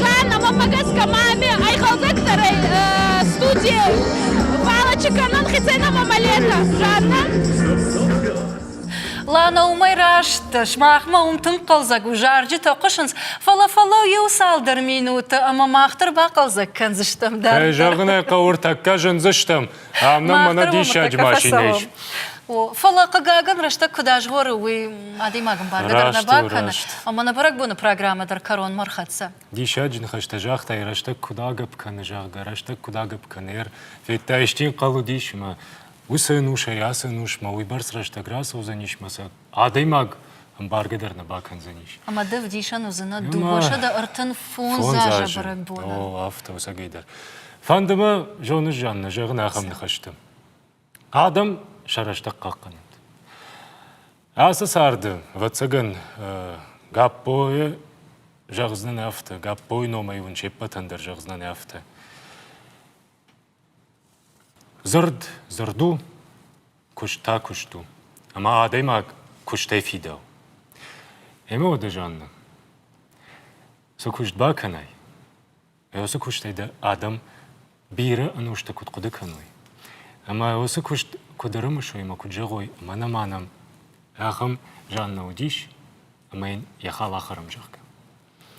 Жанна, уӕмӕ гӕсгӕ ма ме айгъӕлдӕгдӕрӕй студи балачы кӕнӕн хецӕн ӕма мӕлӕтӕ. Жанна? Лана, уымӕй раст, сымахмӕ уым тынг хъӕлдзӕг у, зарджытӕ хъуысынц, фӕлӕ фӕлӕу иу цалдӕр минуты ӕмӕ мах дӕр бахъӕлдзӕг кӕндзыстӕм дӕр. Кӕй зӕгъын ӕй хъӕуы, ӕртӕккӕ зындзыстӕм. Ам нӕм мӕнӕ диссаджы машинӕ ис. Фӕлӕ, хъыгагӕн, рӕстӕг куыд азгъоры, уый адӕймагӕн бӕргӕ дӕр нӕ бакӕны. Ӕмӕ нӕ бӕрӕгбоны программӕ дӕр кӕронмӕ ӕрхӕццӕ. Диссаджы ныхӕстӕ загътай, рӕстӕг куыд агӕпп кӕны, зӕгъгӕ, рӕстӕг куыд агӕпп кӕны. Ӕр федта исчи хъал уыдис ӕмӕ уыцы ӕнусӕй ацы ӕнусмӕ уыйбӕрц рӕстӕг рацӕудзӕнис мӕ сӕ Адӕймаг ӕмбаргӕ дӕр нӕ бакӕндзӕнис. Ӕмӕ дӕ вдисӕн уыдзынӕ дыууӕ-сӕдӕ ӕртын фондз азы бӕрӕгбоны. О, афтӕ, ӕцӕгӕй дӕр. Фӕнды мӕ, зоныс, Жаннӕ, зӕгъын ахӕм ныхӕсты. Адӕм сӕ рӕстӕг хъахъхъӕнӕнт. Ацы царды, ӕвӕццӕгӕн, Гаппойы зӕгъдзынӕн афтӕ, Гаппойы номӕй уын се ппӕтӕн дӕр зӕгъдзынӕн афтӕ. Дзырд дзырд у, куыст та куыст у, ӕмӕ адӕймаг куыстӕй фидауы. Ӕмӕ уӕдӕ, Жаннӕ, цы куыст бакӕнай, уыцы куыстӕй дӕ адӕм бирӕ ӕнустӕ куыд хъуыды кӕной, ӕмӕ уыцы куыст куыд ӕрымысой ӕмӕ куыд зӕгъой мӕнӕ-мӕнӕ, ахӕм Жаннӕ уыдис, ӕмӕ йын йӕ хал ахӕрӕм, зӕгъгӕ.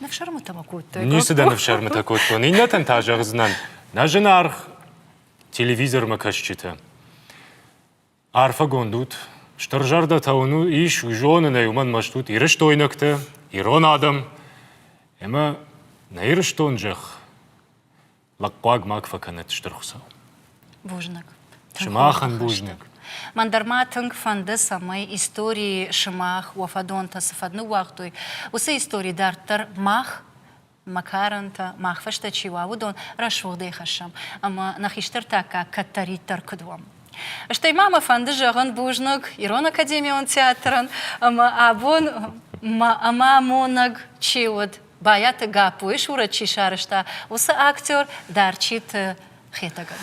Ныфсӕрмытӕ мӕ кодтай. Ницы дӕ ныфсӕрмытӕ кодтон. Иннӕтӕн та зӕгъдзынӕн. Нӕ зынаргъ телевизормӕ кӕсджытӕ. Арфӕгонд ут. Стыр зӕрдӕтӕ уын ис, уый зонын ӕй, уымӕн мӕст ут ирыстойнӕгтӕ, ирон адӕм. Ӕмӕ нӕ Ирыстон зӕхх Лӕгхъуаг ма фӕкӕнӕт, Стыр Хуыцау. Бузныг. Сымахӕн бузныг. Мӕн дӕр ма тынг фӕнды, цӕмӕй историйы сымах уӕ фӕдонтӕ цы фӕд ныууагътой, уыцы истори дарддӕр мах, мӕ карӕнтӕ, мах фӕстӕ чи уа, уыдон рӕсугъдӕй хӕссӕм ӕмӕ нӕ хистӕртӕккаг кӕддӕриддӕр куыд уӕм. Стӕй ма мӕ фӕнды зӕгъын бузныг Ирон академион театрӕн ӕмӕ абон мӕ амонӕг чи уыд, Байаты Гаппойы сурӕт чи сарӕзта, уыцы актер Дарчиты Хетӕгӕн.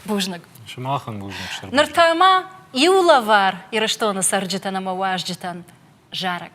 Бузныг. Сымахӕн бузныг стыр. Ныр та ма иу лӕвар Ирыстоны цӕрджытӕн ӕмӕ уазджытӕн зарӕг.